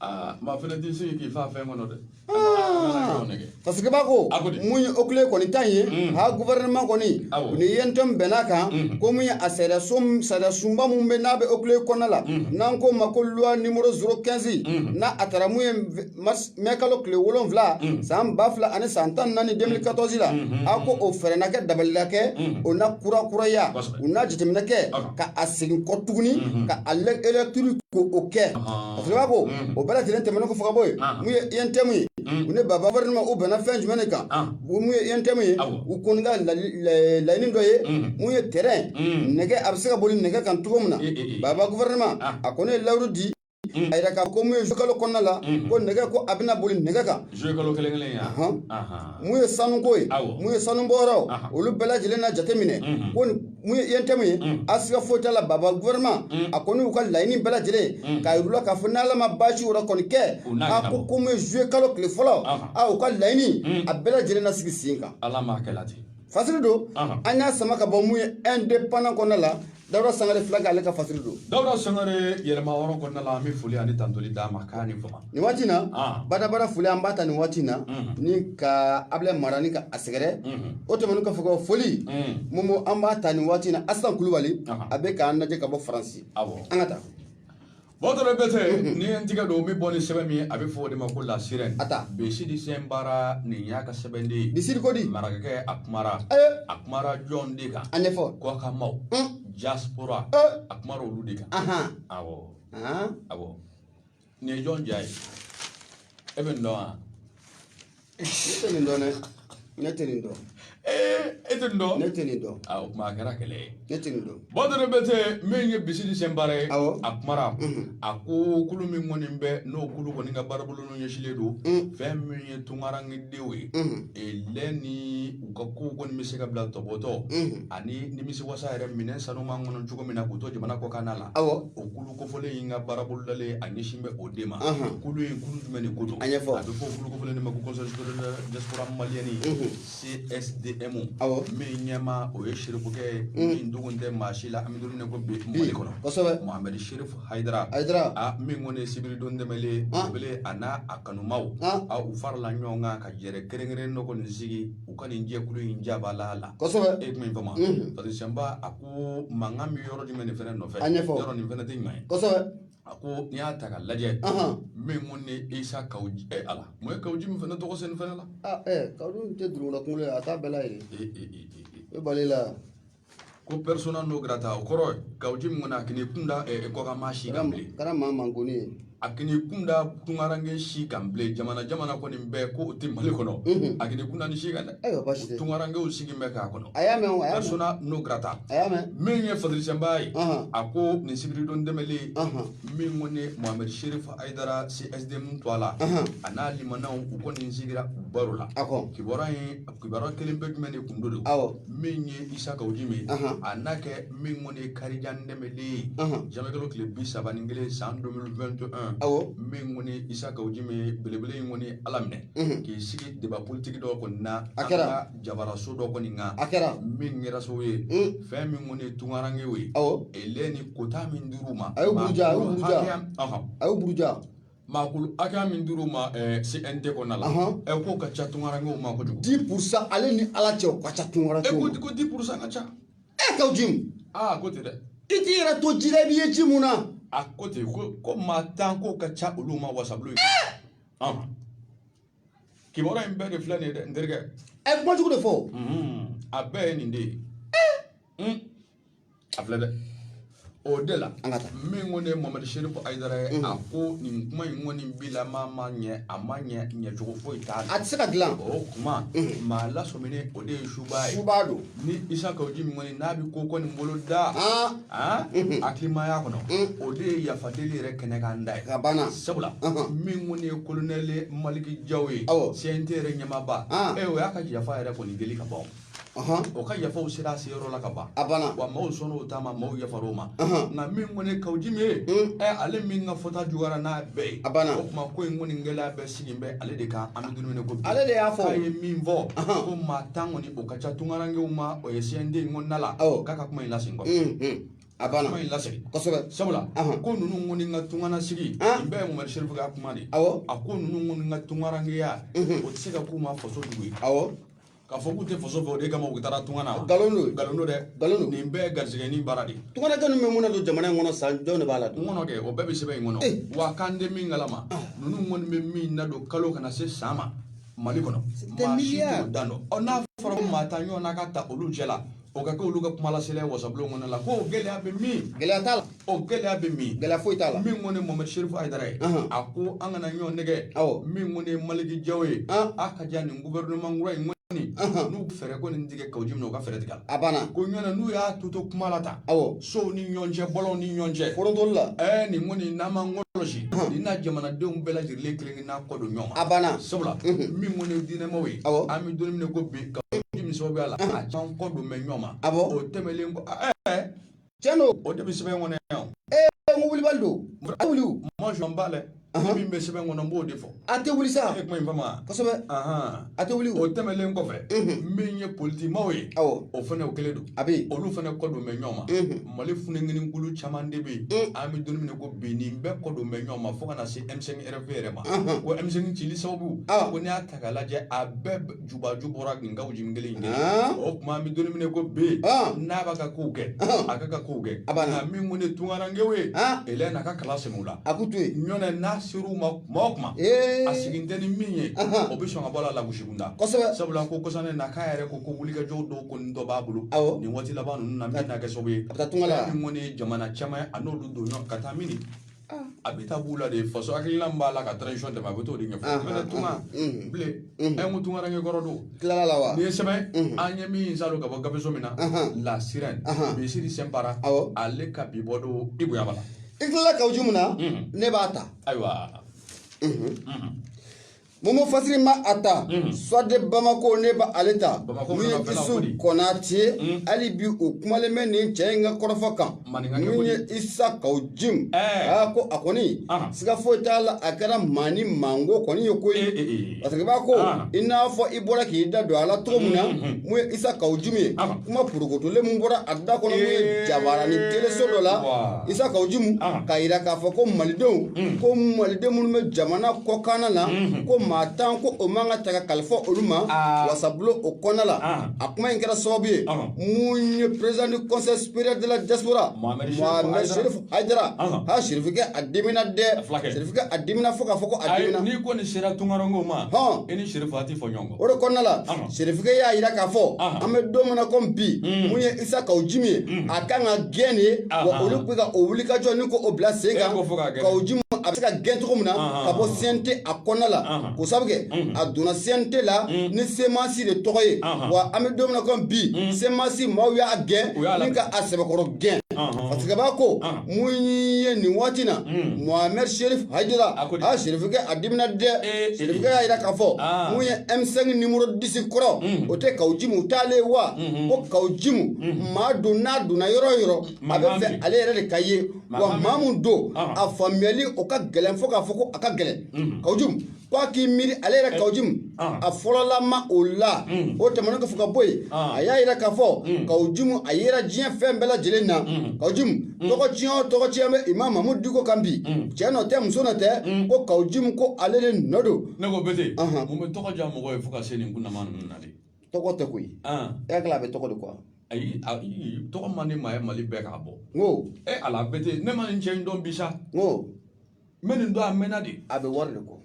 aa maa fana tɛ se k'i fa fɛn kɔnɔ dɛ parce que b'a ko mun ye OCLEI kɔni ta ye ha gouvernement kɔni ni UNTM bɛnn'a kan ko mun ye a sariya sunba mun bɛ n'a bɛ OCLEI kɔnɔna la n'an k'o ma ko loi numéro 015 n'a a taara mun ye mɛ kalo tile wolonwula san ba fila ani san tan naani 2014 la a ko o fɛɛrɛ na kɛ dabali na kɛ o na kurakuraya u na jateminɛ kɛ ka a segin kɔ tuguni ka a relecture ko o kɛ Parce que b'a ko o bɛɛ lajɛlen tɛmɛnen kɔfɛ ka bɔ yen mun ye UNTM ye u ni baba gouvernement u bɛnna fɛn jumɛn de kan mun ye UNTM ye u kɔni ka laɲini dɔ ye mun ye train nɛgɛ a bɛ se ka boli nɛgɛ kan cogo min na baba gouvernement a kɔni ye layidu di a yɛrɛ ka ko mun ye juin kalo kɔnɔna la ko nɛgɛ ko a bɛna boli nɛgɛ kan mun ye sanuko ye mun ye sanubɔyɔrɔ olu bɛɛ lajɛlen na jateminɛ Mun ye UNTM ye a siga foyi t'a la baba gouvernement a kɔni y'u ka laɲini bɛɛ lajɛlen k'a yir'u la k'a fɔ n'Ala ma baasi wɛrɛ kɔni kɛ a ko ko mun ye juillet kalo tile fɔlɔ u ka laɲini a bɛɛ lajɛlen na sigi sen kan Ala m'a kɛra ten fasiri don an y'a sama ka bɔ mun ye Indépendant kɔnɔna la Dawuda Sangare fila ale ka fasiri don Dawuda Sangare yɛlɛma wɔɔrɔ kɔnɔna la an bɛ foli ani tandoli d'a ma' ni Nin waati in na badabada foli an b'a ta nin waati in na ni ka ablaye mara ni ka a sɛgɛrɛ o tɛmɛnen kɔfɛ ka foli momo an b'a ta nin waati in na asitan kulubali a bɛ k'an lajɛ ka bɔ faransi an ka taa bazɔrɔ berete ni n tigɛ don n bɛ bɔ ni sɛbɛn min ye a bɛ fɔ o de ma ko la sirène a taa bisidi sɛnbara nin y'a ka sɛbɛn de ye bisidi ko di marakakɛ a kumara a kumara jɔn de kan a ɲɛfɔ kɔkanmaaw diaspora a kumara olu de kan awɔ awɔ nin ye jɔn ja ye e bɛ nin dɔn wa ne tɛ nin dɔn dɛ ne tɛ nin dɔn e tɛ nin dɔn ne tɛ nin dɔn a o tuma a kɛra kɛlɛ ye ne tɛ nin dɔn bazɔrɔ berete min ye bisidi sɛnbara ye Awɔ. a kumara a ko kulu min kɔni bɛ n'o kulu kɔni ka baarabolonw ɲɛsilen don fɛn min ye tunkarankedenw ye elɛ ni u ka kow kɔni bɛ se ka bila tɔbɔtɔ ani nimisiwasa yɛrɛ minɛn sanuman kɔnɔ cogo min na k'u to jamana kɔkan na la Awɔ. o kulu kofɔlen in ka baarabolo dalen a ɲɛsin bɛ o de ma kulu in kulu jumɛn de ko don a bɛ fɔ kulu kofɔlen de ma ko conseil supérieur diaspora malienne csdm min ɲɛmaa o ye sirifukɛ ye min dogon tɛ maa si la an bɛ don min ko bi mali kɔnɔ kosɛbɛ mohamɛd sherif hayidara hayidara a min kɔni ye sibiridon tɛmɛlen belebele a n'a a kanumaw a u farala ɲɔgɔn kan ka jɛrɛ kɛrɛnkɛrɛnnen dɔ kɔni sigi u ka nin jɛkulu in jabaala la kosɛbɛ e tun ye bama parce que sɛnba a ko mankan bɛ yɔrɔ jumɛn nin fana nɔfɛ A ɲɛfɔ. yɔrɔ nin fana tɛ ɲuman ye kosɛbɛ a ko n'i y'a ta ka lajɛ Ahan. min kɔni isa kawu jim ɛ ala mun ye kawu jim fana tɔgɔ sɛni fana la ah ɛ kawu jim tɛ dugula kunkolo ye a t'a bɛɛ la yɛrɛ ee ee ee ee, ee. o balila ko persona non grata o kɔrɔ ye kawu jim kɔni a kan'i kun da ɛ kɔkanmaa si kan bilen kɛra maa mankoni ye a kan'i kun da tunkaranke si kan bilen jamana jamana kɔni bɛɛ ko o tɛ mali kɔnɔ mhm. a kan'i kun da nin si kan dɛ ayiwa baasi tɛ tunkarankew sigi bɛ k'a kɔnɔ a y'a mɛn o a y'a mɛn persona non grata a y'a mɛn min ye fadiri sɛnba ye a ko nin sibiridon tɛmɛlen min kɔni mohamɛd sherif hayidara csdm tɔgɔ la a n'a limanaw u kɔni sigira u baro la kibaruya in kibaruya kɛlen bɛ jumɛn de kun do awɔ min ye isa kawu jim ye a n'a kɛ min kɔni ye karidon tɛmɛlen ye zanwiyekalo tile bi saba ni kelen san 2021 awɔ min kɔni ye isa kawu jim ye belebele in kɔni ye ala minɛ k'i sigi deba politiki dɔ kɔni na a kɛra an ka jabaraso dɔ kɔni kan a kɛra min kɛra sababu ye fɛn min kɔni ye tunkarankew ye awɔ elɛ ni kota min dir'u ma a y'o buruja a y'o buruja a y'o buruja Maakulu hakɛya min dir'u ma ɛɛ CNT kɔnɔna la. Ɔnhɔn! Ɛ k'o ka ca tunkarankew ma kojugu. 10% ale ni Ala cɛ o ka ca tunkarankew ma. E ko ko 10% ka ca. E Kawu Jim. Aa a ko ten dɛ. I t'i yɛrɛ to ji la, i b'i ye ji mun na. A ko ten ko ko maa 10 k'o ka ca olu ma wasabulon in. Ee! Ɔnhɔn! Kibaruya in bɛɛ de filɛ nin ye dɛ n terikɛ. A ye kuma jugu de fɔ o. Unhun! A bɛɛ ye nin de ye. Ee! Un! a filɛ dɛ o de la An ka taa. min kɔni ye Mohamed serifu ayidara ye a ko nin kuma in kɔni bila maa ma ɲɛ a ma ɲɛ ɲɛcogo foyi t'a la a tɛ se ka dilan o tuma maa lasɔminen o de ye suba ye suba don ni isa kawu jim kɔni n'a bɛ ko kɔni bolo da Ah. ah, hakilimaya kɔnɔ o de ye yafa deli yɛrɛ kɛnɛ kan da ye a banna sabula Ɔhɔn. min kɔni ye kolonɛli maliki jaw ye Awɔ. cnt yɛrɛ ɲɛmaaba Ah. e o y'a ka yafa yɛrɛ kɔni deli ka ban o. o ka yafaw sera a se yɔrɔ la ka ban a banna wa maaw sɔnna o ta ma maaw yafar'o ma nka min kɔni kawu jim ye ɛ ale min ka fɔta juguyara n'a bɛɛ ye a banna o tuma ko in kɔni gɛlɛya bɛɛ sigi bɛ ale de kan an bɛ don min na ko bi ale de y'a fɔ a ye min fɔ ko maa tan kɔni o ka ca tunkarankew ma o ye CNT in kɔnɔna la k'a ka kuma in lasegin kɔfɛ a banna kuma in lasegin kosɛbɛ sabula ko ninnu kɔni ka tunga na sigi nin bɛɛ ye Mohamed Serifu ka kuma de ye awɔ a ko ninnu kɔni ka tunkarankeya o tɛ se ka k'u ma faso jugu ye awɔ k'a fɔ k'u tɛ faso fɛ o de kama u taara tunga na wa? nkalon don nkalon don dɛ nkalon don nin bɛɛ ye garisɛgɛɲini baara de ye tunkaranke ninnu bɛ mun nadon jamana in kɔnɔ san jɔn de b'a dan dɔn kɔnɔ kɛ o bɛɛ bɛ sɛbɛn in kɔnɔ Eh. wa k'an tɛ min kalama ninnu kɔni bɛ min nadon kalo kana se san ma mali kɔnɔ C'est des maa si milliards. t'o dan dɔn ɔ n'a fɔra ko maa tan ɲɔgɔnna ka ta olu cɛ la o ka kɛ olu ka kumalasela ye wasabulon kɔnɔ la ko o gɛlɛya bɛ min gɛlɛya t'a la o gɛlɛya bɛ min gɛlɛya foyi t'a la min kɔni ye Mohamed Sherifu Ayidara ye Anhan. a ko an kana ɲɔgɔn nɛgɛn Awɔ. min kɔni ye Maliki Jaw ye An. a ka jɛ ni gouvernement kura in kɔni Anhan. n'u fɛɛrɛ kɔni tigɛ kawu jim na u ka fɛɛrɛ tigɛ a la a banna ko ɲɔnɛ n'u y'a to to kuma la tan Awɔ. sow ni ɲɔgɔn cɛ bɔlɔnw ni ɲɔgɔn cɛ forontoli la ɛɛ nin kɔni n'an m'an kɔlɔsi Anhan. nin na jamanadenw bɛɛ lajɛlen kelen n'a kɔ don ɲɔgɔn ma a banna sabula min kɔni ye diinɛmaw ye an bɛ don min na ko bi kawu jim sababuya la a caman kɔ don bɛ ɲɔgɔn ma awɔ o tɛmɛnlen kɔ ɛɛ cɛn don o de bɛ sɛbɛn kɔnɔ yan ee n ko wulibali don a wuli mɔnsɔn b'a la min bɛ sɛbɛn kɔnɔ n b'o de fɔ a tɛ wuli sa e kuma in faamu kosɛbɛ A tɛ wuli o tɛmɛnlen kɔfɛ min ye politikimaw ye o fana o kelen don a bɛ olu fana kɔ don bɛ ɲɔgɔn ma mali funankɛninkulu caman de bɛ yen an bɛ don min na ko bi nin bɛɛ kɔ don bɛ ɲɔgɔn ma fo kana na se M5 RFP yɛrɛ ma ko M5 cili sababu ko n'i y'a ta k'a lajɛ a bɛɛ jubaju bɔra nin kawu jim kelen ye o tuma an bɛ don min na ko bi n'a b'a ka kow kɛ a k'a ka kow kɛ a min kɔni tunkarankew ye e na ka kala segu la a k'u to ɲɔn n'a se ma kuma o kuma a sigin tɛ ni min ye o bɛ sɔn ka bɔ a la lagosi kunda sabula ko kɔsa in na k'a yɛrɛ ko ko wulikajɔ dɔw kɔni dɔ b'a bolo nin waati laban ninnu na min na kɛ sababu ye min kɔni ye jamana caman a n'olu don ɲɔgɔn ka taa min a bɛ taa b'u la de faso hakilina b'a la ka transition dɛmɛ a bɛ t'o de ɲɛfɔ mɛ tuma bilen an ko tunkaranke kɔrɔ don tilala la wa n'i ye sɛbɛn an ye min salo ka bɔ gabeso min na la sirɛn misiri sɛnpara ale ka bi bɔ don i bonya b'a la i tilala kawu jim na ne b'a ta ayiwa mumu fasiri ma a ta sɔde bamako ne ba ale ta min ye isu kɔnate hali bi u kumalen bɛ nin cɛ in ka kɔrɔfɔ kan min ye isa kaw jim aa ko a kɔni siga foyi t'a la a kɛra maa ni mango kɔni ye koyi parce que b'a ko i n'a fɔ i bɔra k'i da don a la cogo min na mun ye isa kaw jim ye kuma purukotolen mun bɔra a da kɔnɔ mun ye jabaranin teleso dɔ la Isa Kawu Jimu ɔnhɔn k'a yira k'a fɔ ko Malidenw unhun ko Maliden minnu bɛ jamana kɔkan na unhun ko maa 10 ko o man ka ta ka kalifa olu ma aa wasabulon o kɔnɔna la ɔnhɔn a kuma in kɛra sababu ye ɔnhɔn mun ye président du conseil supérieur de la diaspora Mohamed Chérif Mohamed Haidara Chérif Haidara ɔnhɔn aa Chérif kɛ a dimina dɛ a fulakɛ Chérif kɛ a dimina fo k'a fɔ ko a ayi dimina n'i kɔni sera tunkarankew ma hɔn e ni Chérif a tɛ fɔ ɲɔgɔn kɔ o de kɔnɔna la serifikɛ y'a yira k'a fɔ an bɛ don min na komi bi mun ye isa kaw jimi ye a kan ka gɛn de ye wa olu bɛ ka o wulikajɔ ni k'o bila sen kan kaw jimi a bɛ se ka gɛn cogo min na ka bɔ CNT a kɔnɔna la ko sabu kɛ a donna CNT la ni semasi de tɔgɔ ye wa an bɛ don min na komi bi semasi maaw y'a gɛn ni ka a sɛbɛkɔrɔ gɛn parce que b'a ko mun ye nin waati na mohamed sherif haidara sirifikɛ a dimina dɛ sirifikɛ y'a yira k'a fɔ mun ye m5 nimoro disi kɔrɔ o tɛ kaw jimu t'ale wa ko kaw jimu maa don n'a donna yɔrɔ o yɔrɔ a bɛ fɛ ale yɛrɛ de ka ye wa maa mun don a faamuyali o ka gɛlɛn fo k'a fɔ ko a ka gɛlɛn kaw jimu ko a k'i miiri ale yɛrɛ kawujimu a fɔlɔlama o la o tɛmɛnen kɔfɛ ka bɔ yen a y'a yira k'a fɔ kawujimu a yera diɲɛ fan bɛɛ lajɛlen na kawujimu tɔgɔ tiɲɛ o tɔgɔ tiɲɛ bɛ imamu mamudu diko kan bi cɛ nɔ tɛ muso nɔ tɛ ko kawujimu ko ale de nɔ don ne ko bete mun bɛ tɔgɔ diya mɔgɔ ye fo ka se nin kunnama ninnu na de tɔgɔ tɛ koyi e hakili a bɛ tɔgɔ de kuwa ayi tɔgɔ man di maa ye mali bɛɛ k'a bɔ n ko e ala bete ne ma nin cɛ in dɔn bi sa n ko n bɛ nin dɔn a mɛnna de a bɛ wari de kɔ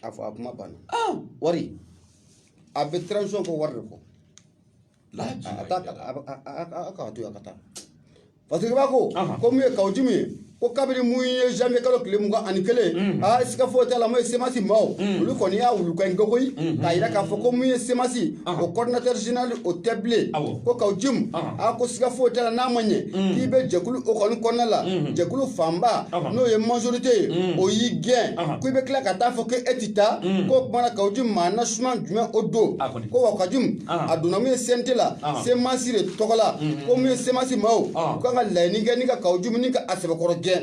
a fɔ a kuma banna wari a bɛ transition kɔ wari de kɔ a t'a kala a bɛ- a- a- a- a k'a to yen a ka taa parce que i b'a ko ko mun ye kaw jimu ye ko kabiri mun ye janvier kalo tile mugan ani kelen aa siga foyi t'a la mun ye semasi maaw olu kɔni y'a wulukan in kokoyi k'a yira k'a fɔ ko mun ye semasi o coordinateur général o tɛ bilen Awɔ. ko kaw jimu a ko siga foyi t'a la n'a ma ɲɛ k'i bɛ jɛkulu o kɔni kɔnɔna la jɛkulu fanba n'o ye majorité ye o y'i gɛn ko i bɛ tila ka taa fɔ ko e tɛ taa k'o kumana kaw jimu maa nasuma jumɛn o don ko wa kaw jimu a donna mun ye CNT la semasi de tɔgɔ la ko mun ye semasi maaw u kan ka laɲini kɛ ni ka kaw jimu ni ka a sɛbɛkɔrɔ gɛn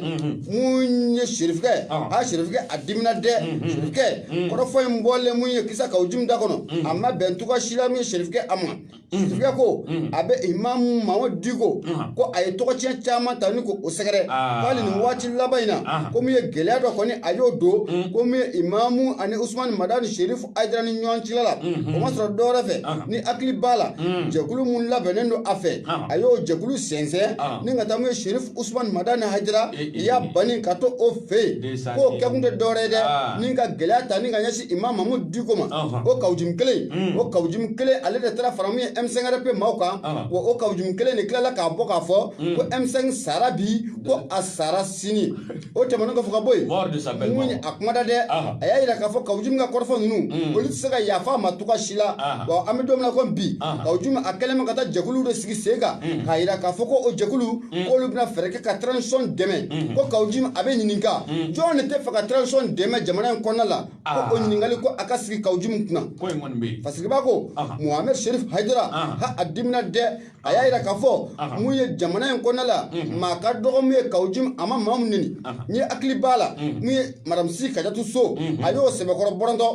mun ye serifikɛ a serifikɛ a dimina dɛ serifikɛ kɔrɔfɔ in bɔlen mun ye isa kaw jimu da kɔnɔ a ma bɛn cogoya si la min ye serifikɛ a ma Serifikɛ ko a bɛ imamu mahamudu diko ko a ye tɔgɔtiɲɛ caman ta ni ko o sɛgɛrɛ hali nin waati laban in na ko mun ye gɛlɛya dɔ kɔni a y'o don ko mun ye imamu ani usumani madani serifu hayidara ni ɲɔgɔn cɛ la o ma sɔrɔ dɔwɛrɛ fɛ n'i hakili b'a la jɛkulu min labɛnnen don a fɛ a y'o jɛkulu sɛnsɛn ni ka taa mun ye serifu Usumani Madani Hayidara i y'a ban ni ka to o fɛ yen k'o kɛkun tɛ dɔwɛrɛ ye dɛ ni ka gɛlɛya ta ni ka ɲɛsin Imam Mahamudu Diko ma o kawujimi kelen o kawujimi kelen ale de taara fara mun ye M5RP maaw kan wa o kawujimi kelen de tilala k'a bɔ k'a fɔ ko M5 sara bi ko a sara sini o tɛmɛnen kɔfɛ ka bɔ yen Mort de sa belle mun ye mort. a kuma da dɛ Aha. a y'a jira k'a fɔ kawujimi ka kɔrɔfɔ ninnu Mm. olu tɛ se ka yafa a ma cogoya si la Aha. wa an bɛ don min na komi bi Aha. kawujimi a kɛlen bɛ ka taa jɛkuluw de sigi sen kan Mm. k'a jira k'a fɔ ko o jɛkulu k'olu bɛna fɛɛrɛ kɛ ka transition dɛmɛ Mhm. ko kawujimi a bɛ ɲininka Mm. jɔn de tɛ fɛ ka transition dɛmɛ jamana in kɔnɔna la Ah. ko o ɲininkali ko a ka sigi kawujimi kunna ko in kɔni bɛ yen fasigiba ko Aha. mohamed sherif haidara Aha. ha a dimina dɛ a y'a jira k'a fɔ mun ye jamana in kɔnɔna la maa ka dɔgɔ mun ye kawujimi a ma maa min neni n'e hakili b'a la mun ye madame si kajatu so a y'o sɛbɛkɔrɔ bɔrɔntɔ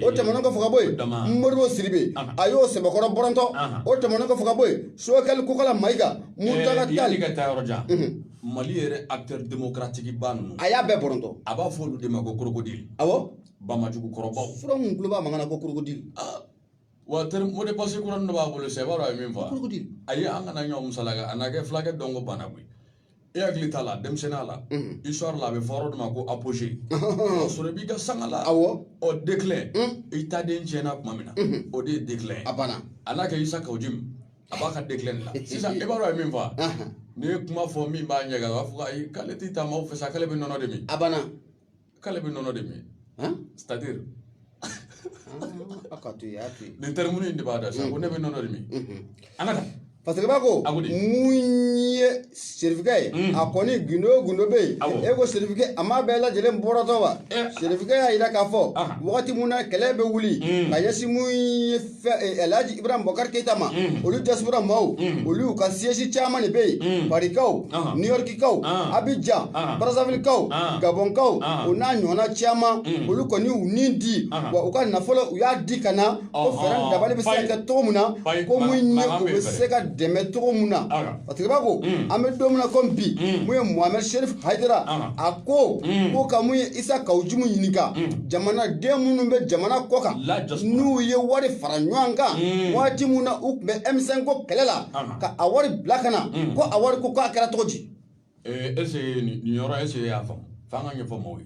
o tɛmɛnen kɔfɛ ka bɔ yen modibo sidibe a y'o sɛbɛkɔrɔ bɔrɔntɔ o tɛmɛnen kɔfɛ ka bɔ yen sogɛli kokala mayiga muntaga tali ka taa yɔrɔ jan mali yɛrɛ acteur démocratique ba ninnu a y'a bɛɛ bɔrɔntɔ a b'a fɔ olu de ma ko krokodili awɔ bamajugu kɔrɔbaw fura mun tulo b'a mankan na ko krokodili wa mot de passe kuran dɔ b'a bolo sa e b'a dɔn a ye min fɔ ayi an kana ɲɔgɔn musalaka a na kɛ fulakɛ dɔn ko banna koyi e hakili t'a la denmisɛnninya la histoire la a bɛ fɔ yɔrɔ dɔ ma ko apogée o sɔrɔ i b'i ka sanga la awɔ ɔ déclin i ta den tiɲɛna tuma min na o de ye déclin ye a banna a n'a kɛ isa kawujimi a b'a ka déclin de la sisan e b'a dɔn a ye min fɔ n'i ye kuma fɔ min b'a ɲɛgan a b'a fɔ ayi k'ale t'i taama o fɛ sa k'ale bɛ nɔnɔ de min a banna k'ale bɛ nɔnɔ de min c'est à dire a ka to yen a to yen nin tɛrɛmunin in de b'a da sisan ko ne bɛ nɔnɔ de min an ka taa fasigiba ko mun ye serifikɛ ye a kɔni gundo o gundo bɛ yen e ko serifikɛ a m'a bɛɛ lajɛlen bɔrɔtɔ wa serifikɛ y'a jira k'a fɔ wagati mun na kɛlɛ bɛ wuli ka ɲɛsin mun ye alhaji ibrahim bokar keyita ma olu diaspora maaw olu u ka siège caman de bɛ yen parikaw new yorkikaw abijan barazavilikaw gabɔnkaw o n'a ɲɔgɔnna caman olu kɔni y'u ni di wa u ka nafolo u y'a di ka na ko fɛɛrɛ dabali bɛ se ka kɛ cogo min na ko mun ye u bɛ se ka dɛmɛ cogo min na Fasigiba ko an bɛ don min na komi bi mun ye Mohamed Cherif Hayidara a ko k'u ka mun ye Isa Kawujumu ɲininka jamanaden minnu bɛ jamana kɔ kan n'u ye wari fara ɲɔgɔn kan waati min na u tun bɛ M5 ko kɛlɛ la ka a wari bila ka na ko a wari ko k'a kɛra cogo di. Ɛɛ est ce que nin yɔrɔ est ce que e y'a faamu f'an ka ɲɛfɔ mɔgɔw ye.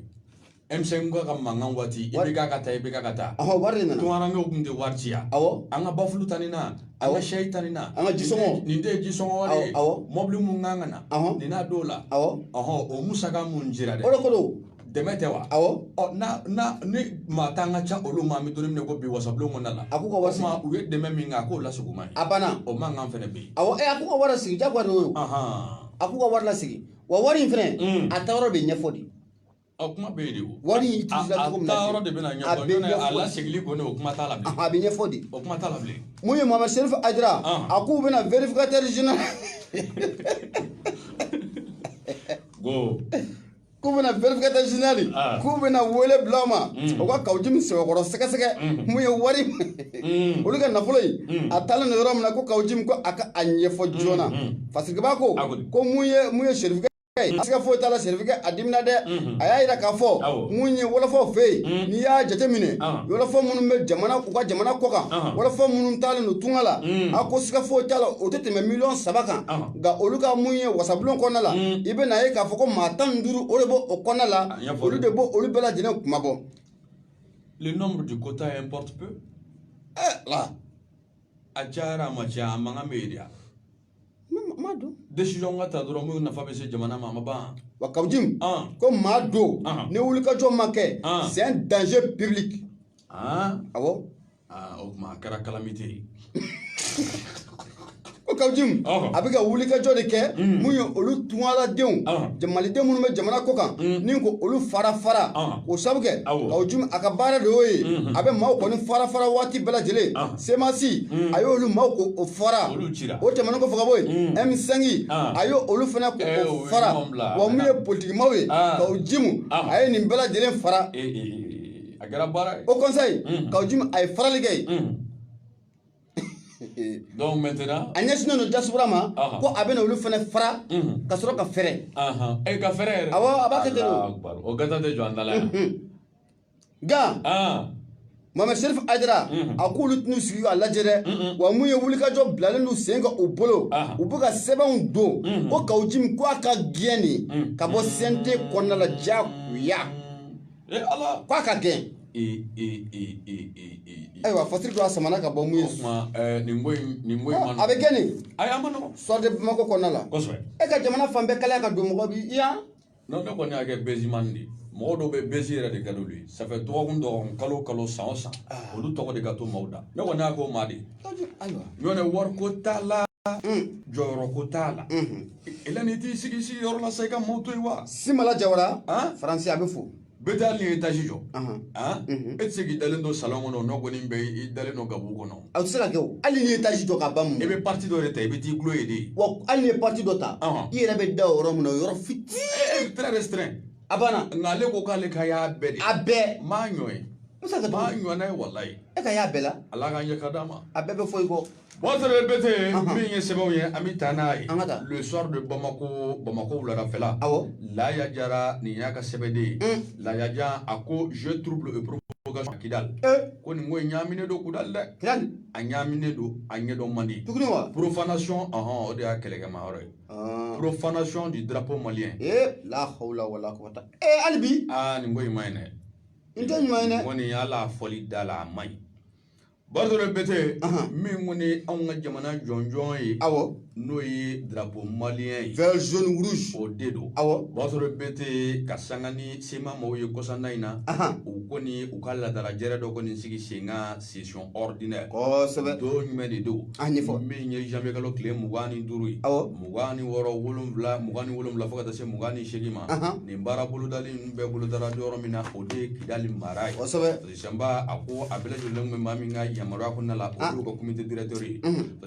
M5 ka mankan waati i bɛ k'a ka taa i bɛ k'a ka taa ɔhɔ wari de nana tunkarankew tun tɛ wari ci yan awɔ an ka bafulu ta ni na an ka Awɔ. sɛyi ta ni na An ka jisɔngɔ. nin de ye jisɔngɔ wari ye Awɔ, awɔ. mɔbili mun kan ka na Ɔhɔ. nin n'a don la awɔ ɔhɔ o musaka mun jira dɛ o de ko don dɛmɛ tɛ wa awɔ ɔ n'a n'a ni maa tan ka ca olu ma an bɛ don min na ko bi wasabulon kɔnɔna la A k'u ka wari o tuma u ye dɛmɛ min kɛ a k'o laseg'u ma ye a banna o mankan fɛnɛ bɛ yen awɔ ɛ a k'u ka wari lasegi diyagoya don o ahan a k'u ka wari lasegi wa wari in fɛnɛ Mm. a taayɔrɔ bɛ ɲɛfɔ de Ɔ kuma bɛ yen de o. Wari in utilisera cogo min na. A a taayɔrɔ de bɛna ɲɛfɔ. A bɛ ɲɛfɔ de. A lasegili kɔni o kuma t'a la bilen. A bɛ ɲɛfɔ de. O kuma t'a la bilen. Mun ye Mohamed Serifu Ayidara. A k'u bɛna vérificateur général. Ko. k'u bɛna vérificateur général k'u bɛna wele bila o ma o ka Kawujim sɛbɛkɔrɔ sɛgɛsɛgɛ mun ye wari olu ka nafolo in a taalen don yɔrɔ min na ko Kawujim ko a ka a ɲɛfɔ joona fasikibaa ko ko mun ye mun ye serifukɛ a siga foyi t'a la Serifukɛ a dimina dɛ a y'a jira k'a fɔ mun ye wɔlɔfɔw fɛ yen n'i y'a jateminɛ wɔlɔfɔ minnu bɛ jamana u ka jamana kɔ kan wɔlɔfɔ minnu taalen don tunga la a ko siga foyi t'a la o tɛ tɛmɛ miliyɔn saba kan nka olu ka mun ye wasabulon kɔnɔna la i bɛ na ye k'a fɔ ko maa tan ni duuru o de b'o o kɔnɔna la olu de b'o olu bɛɛ lajɛlen kunmabɔ. le nombre du quota importe peu. Eh, la. a cayara a ma caya a mankan bɛ yen de wa. Mado décision ka ta dɔrɔn minnu nafa bɛ se jamana ma a ma ban wa Kawujim ko Mado ni wulikajɔ ma kɛ c'est un danger public awɔ o tuma a kɛra calamité ye ko Kawujim a bɛ ka wulikajɔ de kɛ mun ye olu tunkaradenw malidenw minnu bɛ jamana kɔ kan ni ko olu fara fara o sabu kɛ Kawujim a ka baara de y'o ye a bɛ maaw kɔni fara fara waati bɛɛ lajɛlen semasi mm. a y'olu maaw ko fara o tɛmɛnen kɔfɛ ka bɔ yen M5 mm. ah. a y'o olu fana ko eh, o fara wa mun ye politikimaaw ye ah. Kawujim ah. a ye nin bɛɛ lajɛlen fara eh, eh, a kɛra baara ye au conseil mm. Kawujim a ye farali kɛ yen donc maintenant a ɲɛsinnen don diaspora ma ko a bɛna olu fana fara ka sɔrɔ ka fɛrɛ ka fɛrɛ yɛrɛ awɔ a b'a kɛ ten o gata tɛ jɔ an da la yan nka Mohamed Sherif Haidara a k'olu tɛn'u sigi k'a lajɛ dɛ wa mun ye wulikajɔ bilalen don sen kan u bolo u bɛ ka sɛbɛnw don ko kawujimi ko a ka gɛn de ka bɔ CNT kɔnɔna la diyagoya ko a ka gɛn ayiwa fasiri don a samana ka bɔ mun ye a bɛ kɛ nin sɔrɔ de bamakɔ kɔnɔna la e ka jamana fan bɛɛ kalaya ka don mɔgɔ bi yan Non ne kɔni y'a kɛ buzzman de ye mɔgɔ dɔw bɛ buzz yɛrɛ de ka d'olu ye ça fait dɔgɔkun dɔgɔkun kalo o kalo san o san olu tɔgɔ de ka to maaw da ne kɔni y'a k'o maa de ye Ayiwa. ɲɔnɛ wariko t'a la jɔyɔrɔko t'a la elɛ n'i t'i sigi sigi yɔrɔ la sa i ka maaw to yen wa Simala Jawara, an? Faransi a bɛ fo. bɛɛ tɛ hali n'i ye etazi jɔ e tɛ se k'i dalen don salon kɔnɔ n'o kɔni bɛ i dalen don gabugu kɔnɔ a tɛ se ka kɛ o hali n'i ye etazi jɔ ka ban mun i bɛ pati dɔ de ta i bɛ t'i gulo ye de wa hali n'i ye pati dɔ ta i yɛrɛ bɛ da o yɔrɔ min na o yɔrɔ fitinin très restreint a banna nka ale ko k'ale ka y'a bɛɛ de a bɛɛ n m'a ɲɔgɔn ye n m'a ɲɔgɔnna ye walayi e ka y'a bɛɛ la ala ka ɲɛ ka d'a ma a bɛɛ bɛ fɔ i kɔ B'a sɔrɔ bɛte min ye sɛbɛnw ye an bɛ taa n'a ye le soir de bamakɔ bamakɔ wuladafɛla awɔ laya jara nin y'a ka sɛbɛnden ye laya jara a ko jeu trouble et provocation à kidal ko nin ko in ɲagaminen don kidali dɛ a ɲagaminen don a ɲɛdɔn man di profanation hɔn o de y'a kɛlɛkɛma yɔrɔ ye profanation du drapeau malien la hawla hali bi nin ko in man ɲi dɛ n tɛ ɲuman ye kɔni yala fɔli da la a man ɲi B'a sɔrɔ bɛte min kɔni anw ka jamana jɔnjɔn ye awɔ n'o ye drapeau malien ye vert jaune rouge o de don awɔ b'a sɔrɔ bɛte ka sanga ni sema maaw ye kɔsa in na u kɔni u ka laadalajɛrɛ dɔ kɔni sigi sen kan session ordinaire kosɛbɛ don jumɛn de don a ɲɛfɔ min ye zanwuyekalo tile mugan ni duuru ye awɔ mugan ni wɔɔrɔ wolonwula mugan ni wolonwula fo ka se mugan ni segin ma nin baara bolodali bɛɛ bolodara yɔrɔ min na o de ye kidali mara ye Samba a ko a bɛɛ lajɛlen bɛ maa min ka yamaruya kɔnɔna la o y'u ka comité directeur ye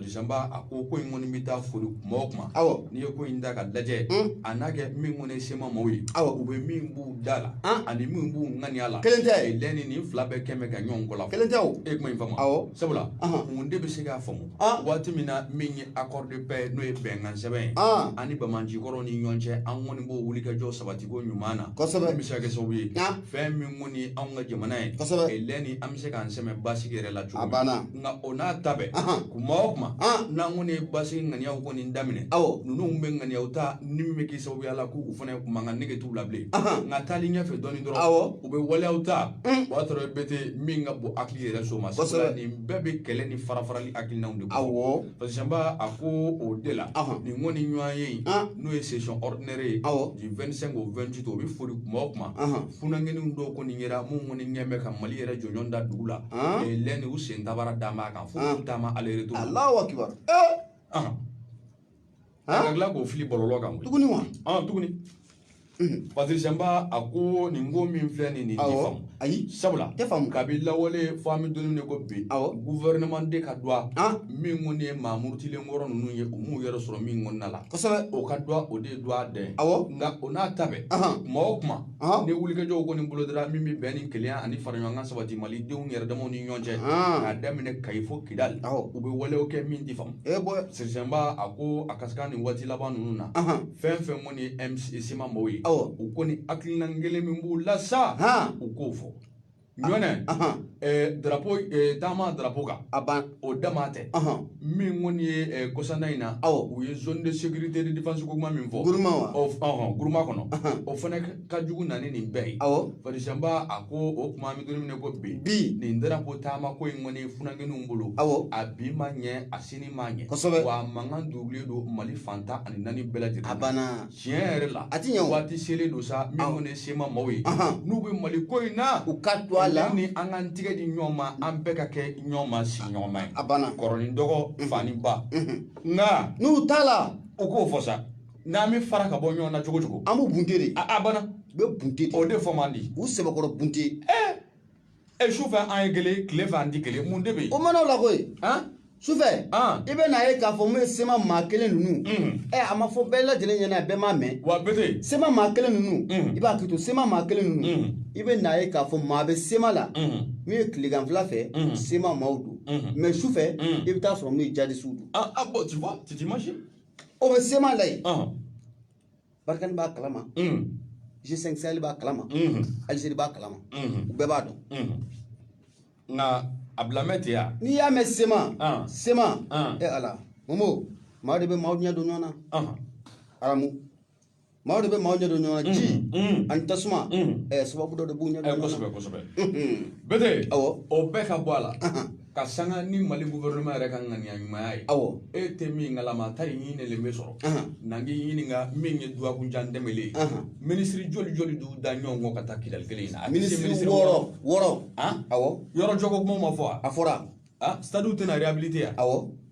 samba a ko ko in kɔni bɛ taa foli kuma o kuma awɔ n'i ye ko in da ka lajɛ a n'a kɛ min kɔni ye sema maaw ye awɔ u bɛ min b'u da la ani min b'u ŋaniya la kelen tɛ lɛni nin fila bɛɛ kɛmɛ ka ɲɔgɔn kɔ kelen tɛ e kuma in faamu awɔ sabula mun de bɛ se k'a faamu Aa waati min na min ye accord de paix ye n'o ye bɛnkansɛbɛn ye an ni banbagancikɔrɔw ni ɲɔgɔn cɛ an kɔni b'o wulikajɔ sabatiko ɲuman na min bɛ se ka kɛ sababu ye fɛn min kɔni anw ka jamana ye lɛni an bɛ se k'an sɛmɛ basigi yɛrɛ la cogo min a banna nka o n'a ta bɛɛ kuma o kuma n'an kɔni ye basigi ŋaniyaw kɔni daminɛ awɔ ninnu bɛ ŋaniyaw ta ni min bɛ k'i sababuya la k'u fana mankan nege t'u la bilen nka taali ɲɛfɛ dɔɔni dɔrɔn u bɛ waleyaw ta o y'a sɔrɔ bɛte min ka bon hakili yɛrɛ so ma sabula nin bɛɛ bɛ kɛlɛ ni farafarali hakilinaw de kɔ awɔ parce que samba a ko o de la nin kɔni ɲɔgɔnye in n'o ye session ordinaire ye awɔ du 25 au 28 o bɛ foli kuma o kuma funankɛninw dɔw kɔni yera minnu kɔni ɲɛ bɛ ka mali yɛrɛ jɔnjɔn da dugu la lɛni u sen tabara d'a ma kan fo k'u taama aller retour Alahu akibaru ka tila k'o fili bɔlɔlɔ kan tuguni wa tuguni parce que samba a ko nin ko min filɛ nin nin tɛ faamu ayi sabula tɛ faamu kabi lawale fo an bɛ don min ko bi gouvernement de ka dɔgɔ min kɔni ye maa murutilenkɔrɔ ninnu ye u m'u yɛrɛ sɔrɔ min kɔnɔna la kosɛbɛ o ka dɔgɔ o de ye dɔgɔ dɛ awɔ nka o n'a ta bɛɛ kuma o kuma ni wulikajɔw kɔni bolodara min bɛ bɛn ni kelenya ani faraɲɔgɔnkan sabati mali denw yɛrɛ damaw ni ɲɔgɔn cɛ k'a daminɛ kayi fo kidali u bɛ walew kɛ min tɛ faamu E bɔ farisanba a ko a ka se ka nin waati laban ninnu na fɛn fɛn kɔni ye sema maaw ye awɔ u kɔni hakilina kelen min b'u la sa u k'o fɔ ɲɔnɛ darapo taama darapo kan a ban o dama tɛ min kɔni ye kɔsanna in na awɔ u ye zone de sécurité de défense ko kuma min fɔ guruma guruma kɔnɔ o fana ka jugu na ni nin bɛɛ ye awɔ farisanba a ko o kuma an bɛ don min na ko bi bi nin darapo taama ko in kɔni funakɛninw bolo awɔ a bi ma ɲɛ a sini ma ɲɛ kosɛbɛ wa a mankan dugulen don mali fan tan ani naani bɛɛ lajɛlen a banna tiɲɛ yɛrɛ la a ti ɲɛ waati selen don sa min kɔni ye sema maaw ye n'u bɛ mali ko in na u ka to a la ni an k'an tigɛ di ɲɔgɔn ma an bɛɛ ka kɛ ɲɔgɔn ma si ɲɔgɔn ma ye a banna kɔrɔ ni dɔgɔ fa ni ba nka n'u t'a la u k'o fɔ sa n'an bɛ fara ka bɔ ɲɔgɔn na cogo cogo an b'u bunte de a banna u bɛ bunte de o de fɔ man di u sɛbɛkɔrɔ bunte ɛ su fɛ an ye kelen tile fɛ an tɛ kelen mun de bɛ yen o mana o la koyi sufɛ i bɛ n'a ye k'a fɔ mun ye sema maa kelen ninnu ɛ a ma fɔ bɛɛ lajɛlen ɲɛna bɛɛ m'a mɛn wa bete sema maa kelen ninnu i b'a kɛ to sema maa kelen ninnu i bɛ n'a ye k'a fɔ maa bɛ sema la min ye tileganfila fɛ sema maaw don mɛ sufɛ i bɛ t'a sɔrɔ min ye jadisiw don ah bon tu vois tu t'imagines o bɛ sema la yen ɔhɔn, barikani b'a kalama mhm, g5 sahel b'a kalama mhm, algérie b'a kalama mhm, u bɛɛ b'a dɔn mhm. nka a bilamɛ tɛ yan n'i y'a mɛn sema Ah. sema Ah. e ala momo maa de bɛ maaw ɲɛ don ɲɔgɔn na ɔhɔn, aramu maaw de bɛ maaw ɲɛ don ɲɔgɔn na ji ani tasuma ɛɛ sababu dɔ de b'u ɲɛ don ɲɔgɔn na kosɛbɛ kosɛbɛ bete awɔ o bɛɛ ka bɔ a la ka sanga ni mali gouvernement yɛrɛ ka ŋaniya ɲumanya ye awɔ e tɛ min ngalama ta in ɲinɛlen bɛ sɔrɔ n k'i ɲininka min ye duwakunjan tɛmɛlen ye minisiri joli joli d'u da ɲɔgɔn kɔ ka taa kidali kelen in na minisiri wɔɔrɔ wɔɔrɔ awɔ yɔrɔ jɔko kuma ma fɔ wa a fɔra stade tɛna réhabiliter wa awɔ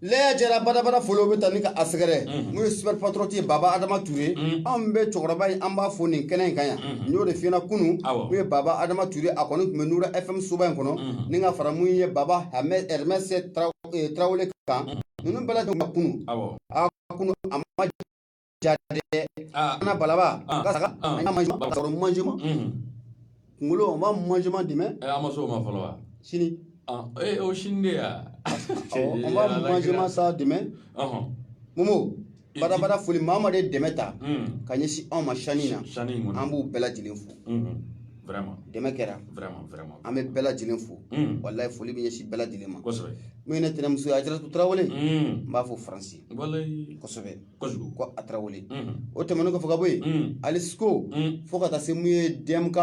laya jara badabada foliw bɛ taa ni ka a sɛgɛrɛ mun ye super patriote ye baba adama ture anw bɛ cɛkɔrɔba in an b'a fo nin kɛnɛ in kan yan n y'o de f'i ɲɛna kunun Awɔ. mun ye baba adama ture a kɔni tun bɛ nura fm soba in kɔnɔ ni ka fara mun ye baba Hamɛ- hermes Traw- eh, tarawele kan ninnu bɛɛ lajɛlen ka kunun Awɔ. a kunun a ma Jate an balaba majima kunkolo ma majima di an ma s'o ma fɔlɔ wa sini o sini de yan majima sa di momo badabada foli maa maa de dɛmɛ ta ka ɲɛsin anw ma san in na sanu an b'u bɛɛ lajɛlen fo dɛmɛ kɛra an bɛ bɛɛ lajɛlen fo wallahi foli bɛ ɲɛsin bɛɛ lajɛlen ma n ne tɛnɛnmuso ajaratu tarawele n b'a fo faransi kosɛbɛ ko a tarawele o tɛmɛnen kɔfɛ ka bɔ yen ali siko fo ka taa se mun ye dmk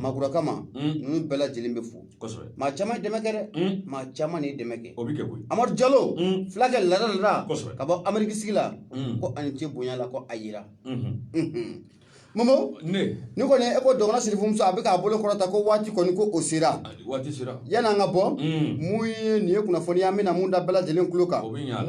magiraga ma ninnu bɛɛ lajɛlen bɛ fo maa caman ye dɛmɛ kɛ dɛ maa caman de ye dɛmɛ kɛ amadu jalo fulakɛ lada lada ka bɔ ameriki sigi la ko ani ce bonya la ko a yira Momo ne ne kɔni e ko dɔgɔnin sirifumuso a bɛ k'a bolo kɔrɔta ko waati kɔni ko o sera waati sera yan an ka bɔ mun ye nin ye kunnafoni ye an bɛna min da bɛɛ lajɛlen tulo kan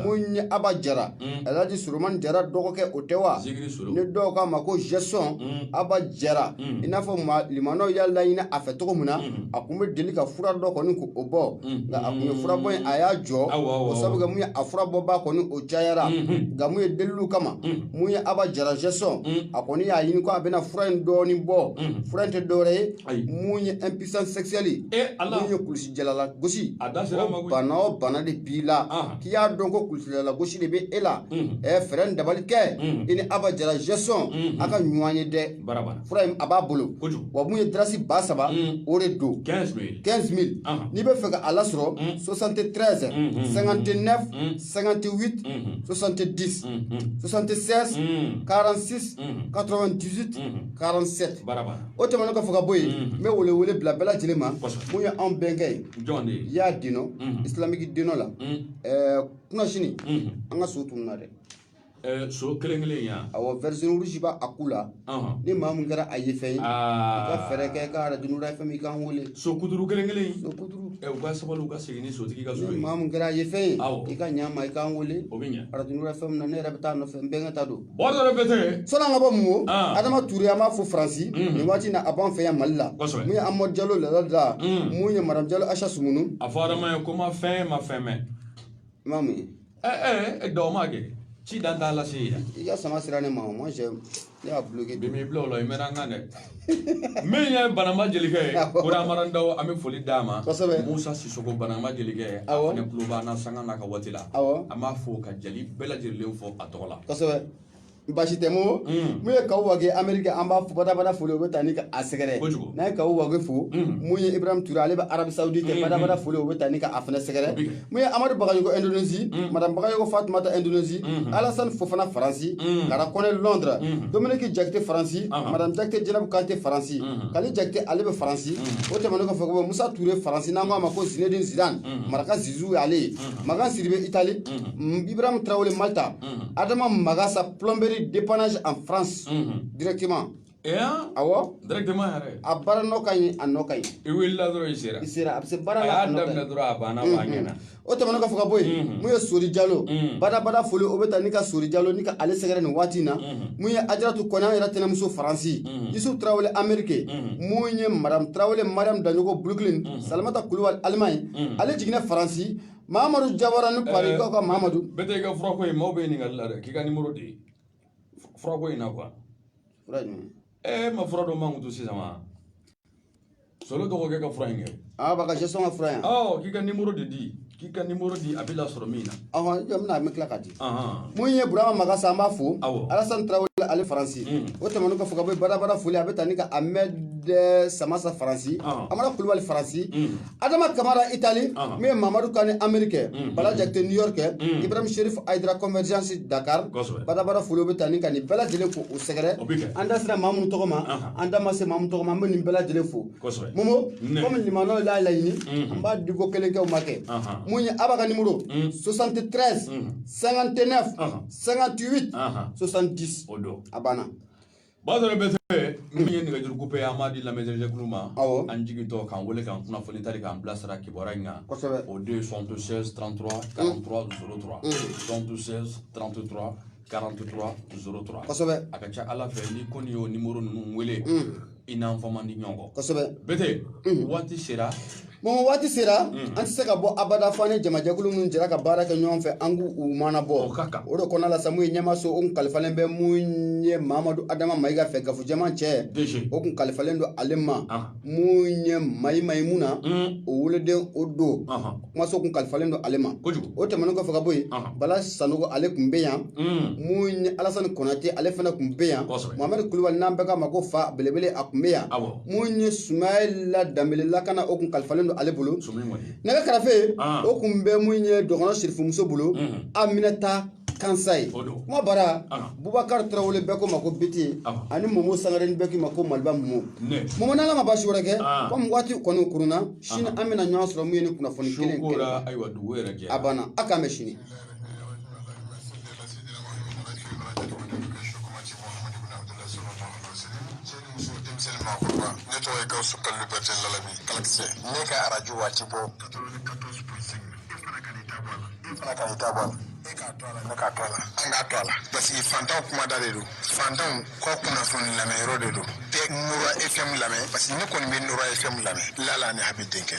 mun ye aba jara alaji surumani jara dɔgɔkɛ o tɛ wa ni dɔw k'a ma ko gestion aba jara i n'a fɔ balimaw y'a laɲini a fɛ cogo min na a tun bɛ deli ka fura dɔ kɔni k'o bɔ nka a tun ye furabɔ in a y'a jɔ o sabu kɛ mun ye a furabɔba kɔni o cayara nka mun ye deliliw kama mun ye aba jara gestion Mm. a kɔni y'a ɲini ko a bɛna fura in dɔɔni bɔ Mm. fura in tɛ dɔwɛrɛ ye Ayi. mun ye impuissance sexuelle e ala mun ye kulusijala lagosi A da sera a ma o koyi. bana o bana de b'i la Ah. k'i y'a dɔn ko kulusijala lagosi de bɛ e la Mm. ɛ fɛɛrɛ ni dabali kɛ Mm. i ni aba jara gestion Mm. a ka ɲɔgɔn ye dɛ Barabara. Fura in a b'a bolo. Kojugu. Wa mun ye dirasi ba saba. Mm. o de don. 15 mille. 15 mille. Anhan. n'i bɛ fɛ ka a lasɔrɔ. 73. 59. 58. 70. 76. 46. 98. 47. Barabara. o tɛmɛnen kɔfɛ ka bɔ yen. n bɛ wele wele bila bɛɛ lajɛlen ma. Kosɛbɛ. mun ye anw bɛnkɛ ye. Jɔn de ye. y'a dino. islamic dino la. ɛɛ kunasini. an ka so tununa dɛ. Ɛɛ so kelen kelen yan ɔ version rouge b'a ku la ni maa min kɛra a ye fɛn ye i ka fɛɛrɛ kɛ ka arajo nuru fm i k'an wele so kutuuru kelen kelen u ka sabali u ka segin ni sotigi ka so ye ni maa min kɛra a ye fɛn ye i ka ɲa ma i k'an wele o bɛ ɲɛ arajo nuru fm na ne yɛrɛ bɛ taa a nɔfɛ n bɛnkɛ ta don sɔɔni an ka bɔ mun ko adama ture an b'a fɔ faransi nin waati in na a b'an fɛ yan mali la mun ye amadu jalo lada mun ye madame jalo ayisa sumunu a fɔ adama ye ko ma fɛn ma fɛn mɛn i ma mun ye ɛɛ ɛ dɔw ma kɛ ci dan t'a lase ye i ka sama sera ne ma o ma sɛ ne y'a bloqué bi m'i bila o la i mɛnna n kan dɛ min ye banamba jelikɛ ye kodamaran daw an bɛ foli d'a ma Kosɛbɛ. musa sisoko banamba jelikɛ a Awɔ. fana tulo b'an na sanga n'a ka waati la Awɔ. an b'a fo ka jali bɛɛ lajɛlen fo a tɔgɔ la kosɛbɛ basi tɛ mo mun ye kaw wage ameriki an b'a fo badabada foli o bɛ taa ni ka a sɛgɛrɛ n'a ye kaw wage fo mun ye ibrahim ture ale bɛ arabie saoudite badabada foli o bɛ taa ni ka a fana sɛgɛrɛ mun ye amadu bagayogo indonésie madame bagayogo fatumata indonésie alasan fofana faransi kara kɔnɛ londres dominiki jakite faransi madame jakite jɛnɛbu kante faransi kali jakite ale bɛ faransi o tɛmɛnen kɔfɛ ko musa ture faransi n'an k'a ma ko zinedine zidane maraka zizu y'ale ye makan sidibe itali ibrahim tarawele malta adama magasa plomberie dépannage en france directement awɔ directement yɛrɛ a baara nɔ ka ɲi a nɔ ka ɲi i wulila dɔrɔn i sera i sera a bɛ se baara la a y'a daminɛ dɔrɔn a banna b'a ɲɛ na o tɛmɛnen kɔfɛ ka bɔ yen mun ye sori jalo badabada foli o bɛ taa ni ka sori jalo ni ka ale sɛgɛrɛ nin waati in na mun ye ajaratu kɔnɛ an yɛrɛ tɛnɛmuso faransi yusuf tarawele amerike mun ye madame tarawele mariam daɲogo brooklyn salamata kulubali allemagne ale jiginna faransi mamadu jawara ni paris ko mamadu bete i ka furako ye maaw bɛ ɲininka la dɛ k'i ka nimoro di furako in na quoi e ma fura dɔ mankutu sisan wa solo dɔgɔkɛ ka fura in kɛ aa ba ka sɔn ka fura yan k'i ka nimoro de di k'i ka nimoro di a bɛ lasɔrɔ min na ɔhɔn jɔ bɛna an bɛ tila k'a di mun ye burama magasa an b'a fo alasan tarawele ale faransi o tɛmɛnen kɔfɛ ka bɔ badabada foli a bɛ taa ni ka amɛd samasa faransi amadu kulubali faransi adama kamara itali Ɔhɔn. mun ye mamadu kane amerike bala jakite new york kɛ ibrahim sherif aidara convergence dakar Kosɛbɛ. badabada foli o bɛ taa ni ka nin bɛɛ lajɛlen fo u sɛgɛrɛ O bɛ kɛ. an da sera maa minnu tɔgɔ ma Ɔhɔn. an da ma se maa minnu tɔgɔ ma an bɛ nin bɛɛ lajɛlen fo Kosɛbɛ. momo Ne. komi lamɛnnaw y'a laɲini an b'a diko kelen kɛ u ma kɛ Ɔhɔn. mun ye aba ka nimoro 73 59 Ɔhɔn. 58 Ɔhɔn. 70 o don a banna Ba dɔ bete min ye nɛgɛjuru ko ye an b'a di lamɛnjɛkulu ma an jigintɔ k'an wele k'an kunnafoni tari k'an bilasira kibaruya in kan o don ye 76 33 43 03 76 33 43 03 kosɛbɛ a ka ca ala fɛ n'i kɔni y'o nimoro ninnu wele i n'an fɔ man di ɲɔgɔn kɔ kosɛbɛ bete waati sera Momo waati sera an tɛ se ka bɔ abada fo an ni jamajɛkulu minnu jɛra ka baara kɛ ɲɔgɔn fɛ an k'u u maana bɔ o ka kan o de kɔnɔna la sa mun ye ɲɛmaso o kun kalifalen bɛ mun ye Mamadu Adama Mayiga fɛ gafojɛman cɛ o kun kalifalen don ale ma mun ye Mayi Mayimuna o weleden o don kumaso kun kalifalen don ale ma kojugu o tɛmɛnen kɔfɛ ka bɔ yen Bala Sanogo ale kun bɛ yan mun ye Alasani Konate ale fana kun bɛ yan Mohamɛdi Kulubali n'an bɛɛ k'a ma ko fa belebele a kun bɛ yan awɔ. mun ye sumayila danbele lakana o kun kalifalen don ale bolo nɛgɛ karafe o kun bɛ mun ye dɔgɔnɔ sirifumuso bolo aminata kansaye kuma bara bubakari tarawele bɛɛ k'o ma ko bete ani momo sangare bɛɛ k'i ma ko maliba momo momo n'ala ma baasi wɛrɛ kɛ kɔmi waati kɔni kurunna sini an bɛna ɲɔgɔn sɔrɔ mun ye ni kunnafoni kelen kelen a banna a k'an bɛn sini muso denmisɛnnin maakɔrɔba ne tɔgɔ ye gawusu kalilu bɛrite lalabi kalakisɛ ne ka arajo waati bɔ e fana ka i ta bɔ a la e k'a to a la ne k'a to a la an k'a to a la parce que fantanw kumada de don fantanw kɔ kunnafoni lamɛnyɔrɔ de don tɛ nura fm lamɛn parce que ne kɔni bɛ nura fm lamɛn lala ni habi denkɛ